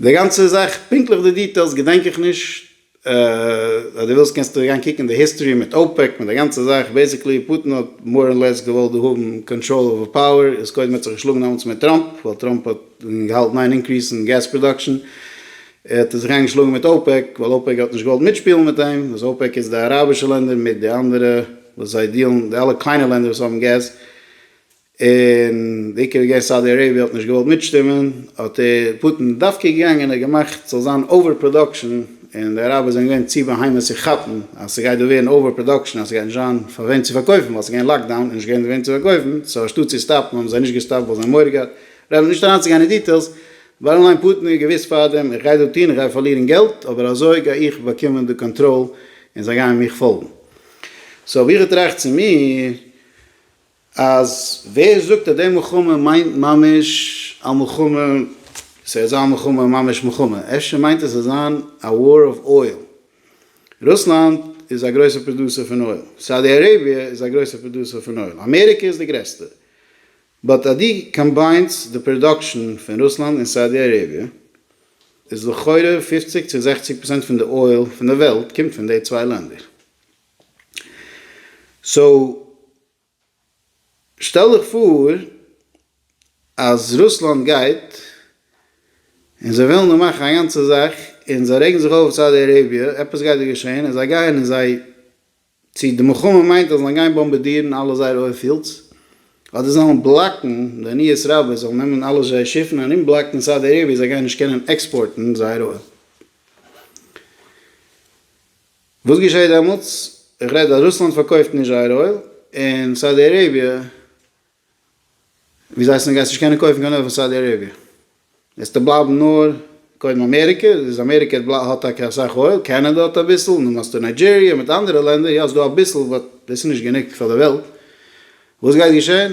די גאנצע זאך, פונקטליך די דיטעילס געדענק איך נישט, אז דו ווילסט קענסטו אריין קוקן אין די היסטארי מיט אופעק מיט די גאנצע זאך, בעיסיקלי פוטין האט מאר און לעס געוואלט דא האבן קאנטראל אווער פאוער, איז קודם האט זיך געשלאגן דעמאלטס מיט טראמפ, ווייל טראמפ האט געהאלטן איין אינקריס אין געז פראדאקשען, ער האט זיך איינגעשלאגן מיט אופעק, ווייל אופעק האט נישט געוואלט מיטשפילן מיט אים, וואס אופעק איז די אראבישע לענדער מיט די אנדערע וואס זיי דיעלן, די אלע קליינע לענדער וואס האבן געז, און די עיקר איז געווען סאודי אראביע האט נישט געוואלט מיטשטימען, האט ער, פוטין, דווקא געגאנגען און געמאכט ס'זאל זיין אווער פראדאקשען, און די אראבער זענען געווען צו בהמות צו כאפן אז ס'גייט דא ווערן אווער פראדאקשען אז ס'גייט נישט זיין פאר וועם צו פארקויפן ווייל ס'איז געווען לאקדאון און נישט געווען וועם צו פארקויפן, סאו אנשטאט צו סטאפן האבן זיי נישט געסטאפט ווייל זיי האבן מורא געהאט, רעדט נישט אריינצוגיין אין דיטעילס, באטטאם ליין פוטין האט געוואוסט פארדעם איך גיי דא טון, איך גיי פארלירן געלט אבער אזוי גיי איך באקומען די קאנטראל און זיי גייען מיך פאלגן. סאו ווי איך טראכט צו מיר, אז ווער זאגט אז די מלחמה מיינט ממש א מלחמה, ס'העט זיין מלחמה ממש מלחמה, אפשר מיינט עס עס זיין א וואר אוו אויל, רוסלאנד איז א גרויסע פראדוסער פון אויל, סאודי אראביע איז א גרויסע פראדוסער פון אויל, אמעריקע איז די גרעסטע, באט אז דו קאמביינס די פראדאקשען פון רוסלאנד און סאודי אראביע, איז לכאורה פופציג צו זעכציג פראצענט פון די אויל פון די וועלט קומט פון די צוויי לענדער. סאו שטעל דיך פאר אז רוסלאנד גייט און זיי ווילן דא מאכן א גאנצע זאך און זיי רעגן זיך אויף אויף סאודי אראביע, עפעס גייט דא געשען און זיי גייען און זיי צו די מלחמה מיינט אז זיי גיין באמבעדירן אלע זייערע אויל פיעלדס אדער זיי וועלן בלאקן די ניעס רבי זאל נעמען אלע זייערע שיפן ארום בלאקן סאודי אראביע זיי גייען נישט קענען עקספארטן זייער אויל. וואס געשעהט דעמאלטס? איך רעד אז רוסלאנד פארקויפט נישט זייער אויל, און סאודי אראביע, ווי זיי הייסן, גייסט נישט קענען קויפן קיין אויל פון סאודי אראביע, וועסט דא בלייבן נאר קודם אמעריקע, איז אמעריקע האט טאקע אסאך אויל, קענעדע האט אביסל, נו מאסטו ניידזשעריע מיט אנדערע לענדער, יא ס'דא אביסל, באט דאס איז נישט גענוג פאר די וועלט, וואס גייט געשעהן?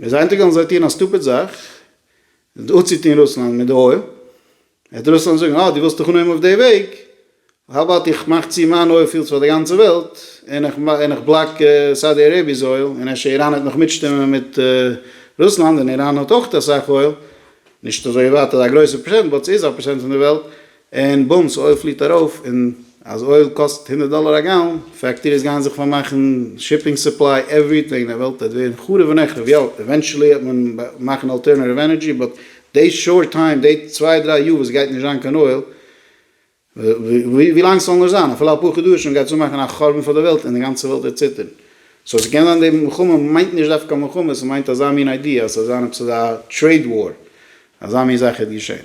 ער איז איינטאג געגאנגען זיי טוען א סטופיד זאך די אפצוטון רוסלאנד מיט די אויל וועט רוסלאנד זאגן אה די ווילסט דיך אנהויבן אויף די וועג האו אבאוט איך מאך צו מיין אויל פיעלדס פאר די גאנצע וועלט און איך און איך בלאק סאודי אראביע'ס אויל און אפשר איראן וועט נאך מיטשטימען מיט רוסלאנד און איראן האט אויך אסאך אויל נישט אזוי ווייט אזא גרויסע פראצענט באט סאיז א פראצענט פון די וועלט. און בום סאיז אויל פליט ארויף און אז אויל קאסט הונדערט דאלער א גאלאן, פעקטעריס גייען זיך פארמאכן, שיפינג סופליי, עווריטינג, די וועלט וועט ווערן חרוב ונחרב, יא עווענטשעלי וועט מען מאכן אלטערנעטיוו ענערדזשי באט די שארט טיים, די צוויי דריי יאר וואס עס גייט נישט זיין קיין אויל, ווילאנג עס זאל נאר זיין, אפילו אפאר חדשים, גייט עס אנמאכן א חורבן פאר די וועלט און די גאנצע וועלט וועט ציטערן. סאו ס'קען זיין די מלחמה מיינט נישט דווקא מלחמה, ס'מיינט אזא מין איידיע אז ס'זאל זיין עפעס אזא טרעיד וואר, אזא מין זאך העט געשען.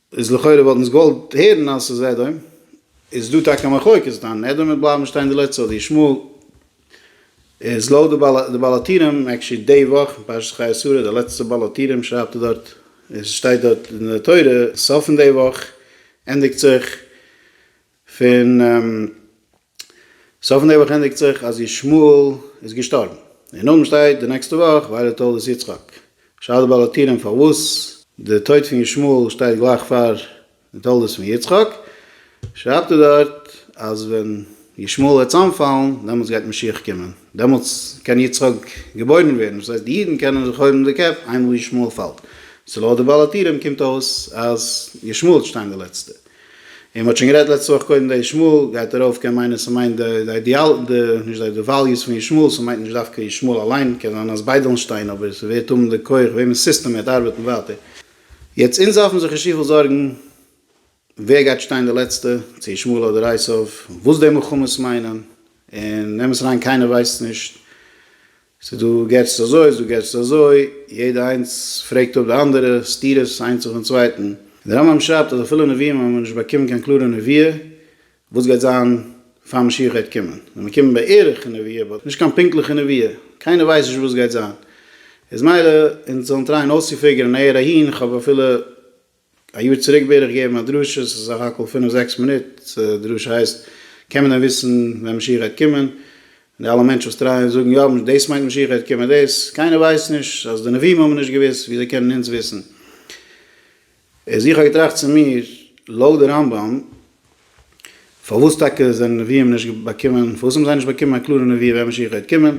איז לכאורה וואלט אונז געוואלט הערן אז ס'איז עדום, איז דא טאקע א מחלוקת דאן, עדום וועט בלייבן שטיין די לעצטע אדער ישמעאל, איז לויט די בעל הטורים, עקשי די וואך אין פרשת חיי שרה די לעצטע בעל הטורים שרייבט ער דארט, עס שטייט דארט אין די תורה, סוף פון די וואך ענדיגט זיך פון. סוף נעבעך ענדיגט זיך אז ישמעאל איז געשטארבן. און אויבן שטייט די נעקסטע וואך ווייל תולדות יצחק. שאל די באלאטירען פארוואס די טויט פון ישמעאל שטייט גלייך פאר די תולדות פון יצחק. שרייבט ער דארט אז ווען ישמעאל וועט צאמפאלן דעמאלטס גייט משיח קומען. דעמאלטס קען יצחק געבוירן ווערן. דאס הייסט די אידן קענען זיך הויבן די קעפ איינמאל ישמעאל פאלט. סאו לויט די באלאטירען קומט אויס אז ישמעאל האט שטיין די לעצטע. און מען האט שוין גערעדט לעצטע וואך קודם די ישמעאל גייט ארויף קען מיינען ס'מיינט די די אידעאל די נישט די די וועליוס פון ישמעאל ס'מיינט נישט דווקא ישמעאל אליין קען זיין אז ביידען שטיין אבער ס'ווערט האבן די כח וועמענס סיסטעם וועט ארבעטן ווייטער יעצט אונז דארפן זיך נישט צופיל זארגן ווער גייט שטיין די לעצטע צו ישמעאל אדער אייסאוו וואס די מלחמות מיינען און נעם עס אריין קיינער ווייסט נישט ס'איז דא געטסט אזוי, ס'איז דא געטסט אזוי, יעדע איינס פרעגט אפ די אנדערע, סתירות איינס אויפן צווייטן. די רמב ם שרייבט אז אפילו נביאים האבן נישט באקומען קיין קלארע נביאה וואס גייט זיין פאר משיח גייט קומען. זיי באקומען בערך נביאה באט נישט קיין פונקטליכע נביאה. קיינער ווייסט נישט וואס גייט זיין. איז מילא אונז זאלן טרייען אויסצופיגערן נעהער אהין, כ'האב אפילו א יאר צוריק בערך געגעבן א דרשה, ס'איז סך הכל פינף זעקס מינוט, דרשה הייסט, קען מען דען וויסן ווען משיח גייט קומען? די אלע מענטשן וואס טרייען זאגן יא דאס מיינט משיח גייט קומען דאס, קיינער ווייסט נישט, אז די נביאים האבן נישט געוואוסט וויאזוי קענען אונז וויסן? איז איך האב געטראכט צו מיר, לויט די רמב ם פארוואס טאקע זענען נביאים נישט באקומען, פארוואס האבן זיי נישט באקומען א קלארע נבואה ווען משיח גייט קומען,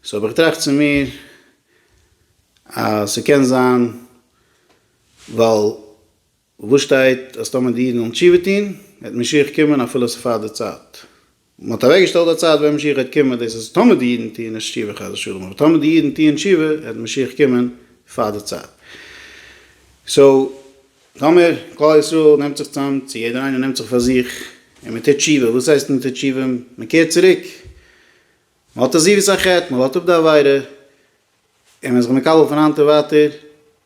סאו האב איך געטראכט צו מיר אז ס'קען זיין ווייל וואו שטייט אז טאמער די אידן וועלן תשובה טוהן וועט משיח קומען אפילו עס איז פאר די צייט? מען האט אוועקגעשטעלט א צייט ווען משיח גייט קומען, דאס איז טאמער די אידן טוהן נישט תשובה חס ושלום, אבער טאמער די אידן טוהן תשובה וועט משיח קומען פאר די צייט. סאו טאמער כלל ישראל נעמט זיך צאם, צו יעדער איינער נעמט זיך פאר זיך און מען טוט תשובה, וואס הייסט מען טוט תשובה? מען קערט צוריק, מען האט עזיבות החטא, מען לאזט אפ די עבירה, און מען איז זיך מקבל פון היינט און ווייטער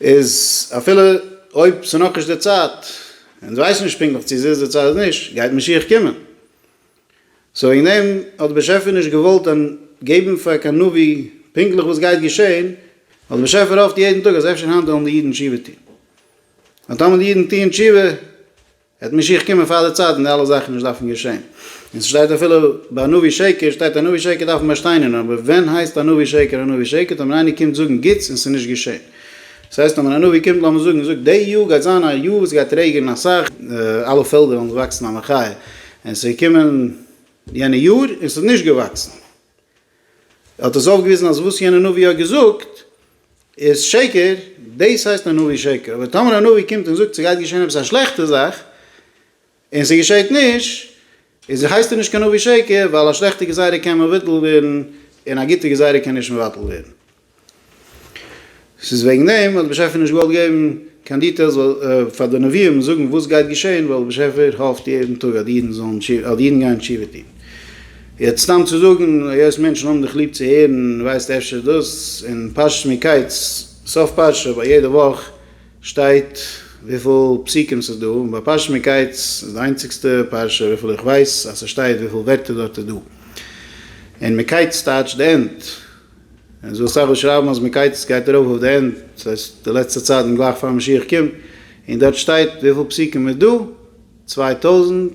איז אפילו אויב ס'איז נאכנישט די צייט, און אונז ווייסן נישט פונקטליך צו עס איז די צייט אדער נישט, גייט משיח קומען. סאו וועגן דעם האט דער באשעפער נישט געוואלט געבן פאר קיין נביא פונקטליך וואס גייט געשען, ווייל דער באשעפער האפט יעדן טאג אז אפשר היינט וועלן די אידן תשובה טון. און טאמער די אידן טוען תשובה, וועט משיח קומען פאר די צייט און די אלע זאכן נישט דארפן געשען. און ס'שטייט אפילו ביי א נביא שקר שטייט א נביא שקר דארף מען באשטיינערן אבער ווען הייסט א נביא שקר א נביא שקר טאמער איינער קומט זאגן גוטס און ס'נישט געשען. ס'הייסט טאמער א נביא קומט לאמיר זאגן און זאגט די יאר גייט זיין א יאר וואס ס'גייט רעגענען אסאך אלע פעלדער וועלן וואקסן א מחיה און ס'איז געקומען יענע יאר און ס'האט נישט געוואקסן. ער האט עס אויפגעוויזן אז וואס יענער נביא האט געזאגט איז שקר, דאס הייסט א נביא שקר, אבער טאמער א נביא קומט און זאגט ס'גייט געשען עפעס א שלעכטע זאך און ס'געשעט נישט, איז הייסט ער נישט קיין נביא שקר, ווייל א שלעכטע גזירה קען מבטל ווערן און א גוטע גזירה קען נישט מבטל ווערן. ס'איז וועגן דעם האט דער באשעפער נישט געוואלט געבן קיין דיטעילס ווייל פאר די נביאים זאגן וואס גייט געשען ווייל דער באשעפער האפט יעדן טאג אז אידן זאלן אז אידן גייען תשובה טון. יעצט סתם צו זאגן היות מענטשן האבן דיך ליב צו הערן ווייזט אפשר דאס און פרשת מקץ סוף פרשה ביי יעדע וואך שטייט וויפיל פסוקים ס'איז דא און ביי פרשת מקץ איז די איינציגסטע פרשה וויפיל איך ווייס אז ס'שטייט וויפיל ווערטער דארט איז דא און מקץ טייטשט די ענד. און ס'דא אסאך וואס שרייבן אז מקץ גייט ארויף אויף די ענד, דאס הייסט די לעצטע צייט און גלייך פאר משיח קומט, און דארט שטייט וויפיל פסוקים איז דא, צוויי טויזנט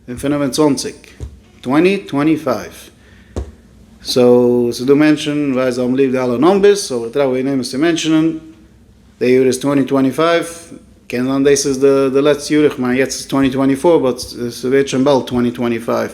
און פֿינף און צוואַנציק, טווענטי טווענטי פייוו, סאו ס'איז דא מענטשן ווייסט זיי האבן ליב די אלע נאמבערס, אבער כ'טראכט וועגן דעם עס צו מענטשענען, די יאר איז טווענטי טווענטי פייוו, קען זיין דאס איז די לעצטע יאר, איך מיין יעצט איז טווענטי טווענטי פאר באט ס'ווערט שוין באלד טווענטי טווענטי פייוו.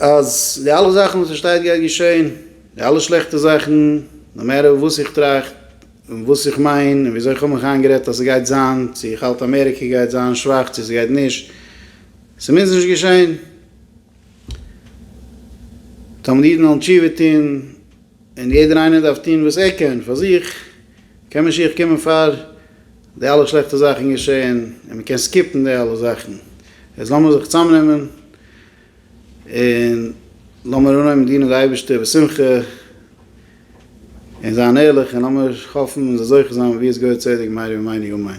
אז די אלע זאכן וואס עס שטייט גייט געשען, די אלע שלעכטע זאכן, נאו מעטער וואס איך טראכט און וואס איך מיין און וויאזוי איך האב מיך איינגערעדט אז עס גייט זיין, צו איך האלט אמעריקע גייט זיין שוואך צו עס גייט נישט, עס מוז נישט געשען. תמיד אידן וועלן תשובה טון און יעדער איינער דארף טון וואס ער קען פאר זיך, קען משיח קומען פאר. די אלע שלעכטע זאכן געשעהן און מען קען סקיפן די אלע זאכן, איז לאמיר זיך צאמנעמען און לאמיר אנהויבן דינען די אייבערשטער בשמחה און זיין ערליך און לאמיר האפן און זיך זוכה זיין ווי עס געהויער צדק מהרי ומאיני אמן.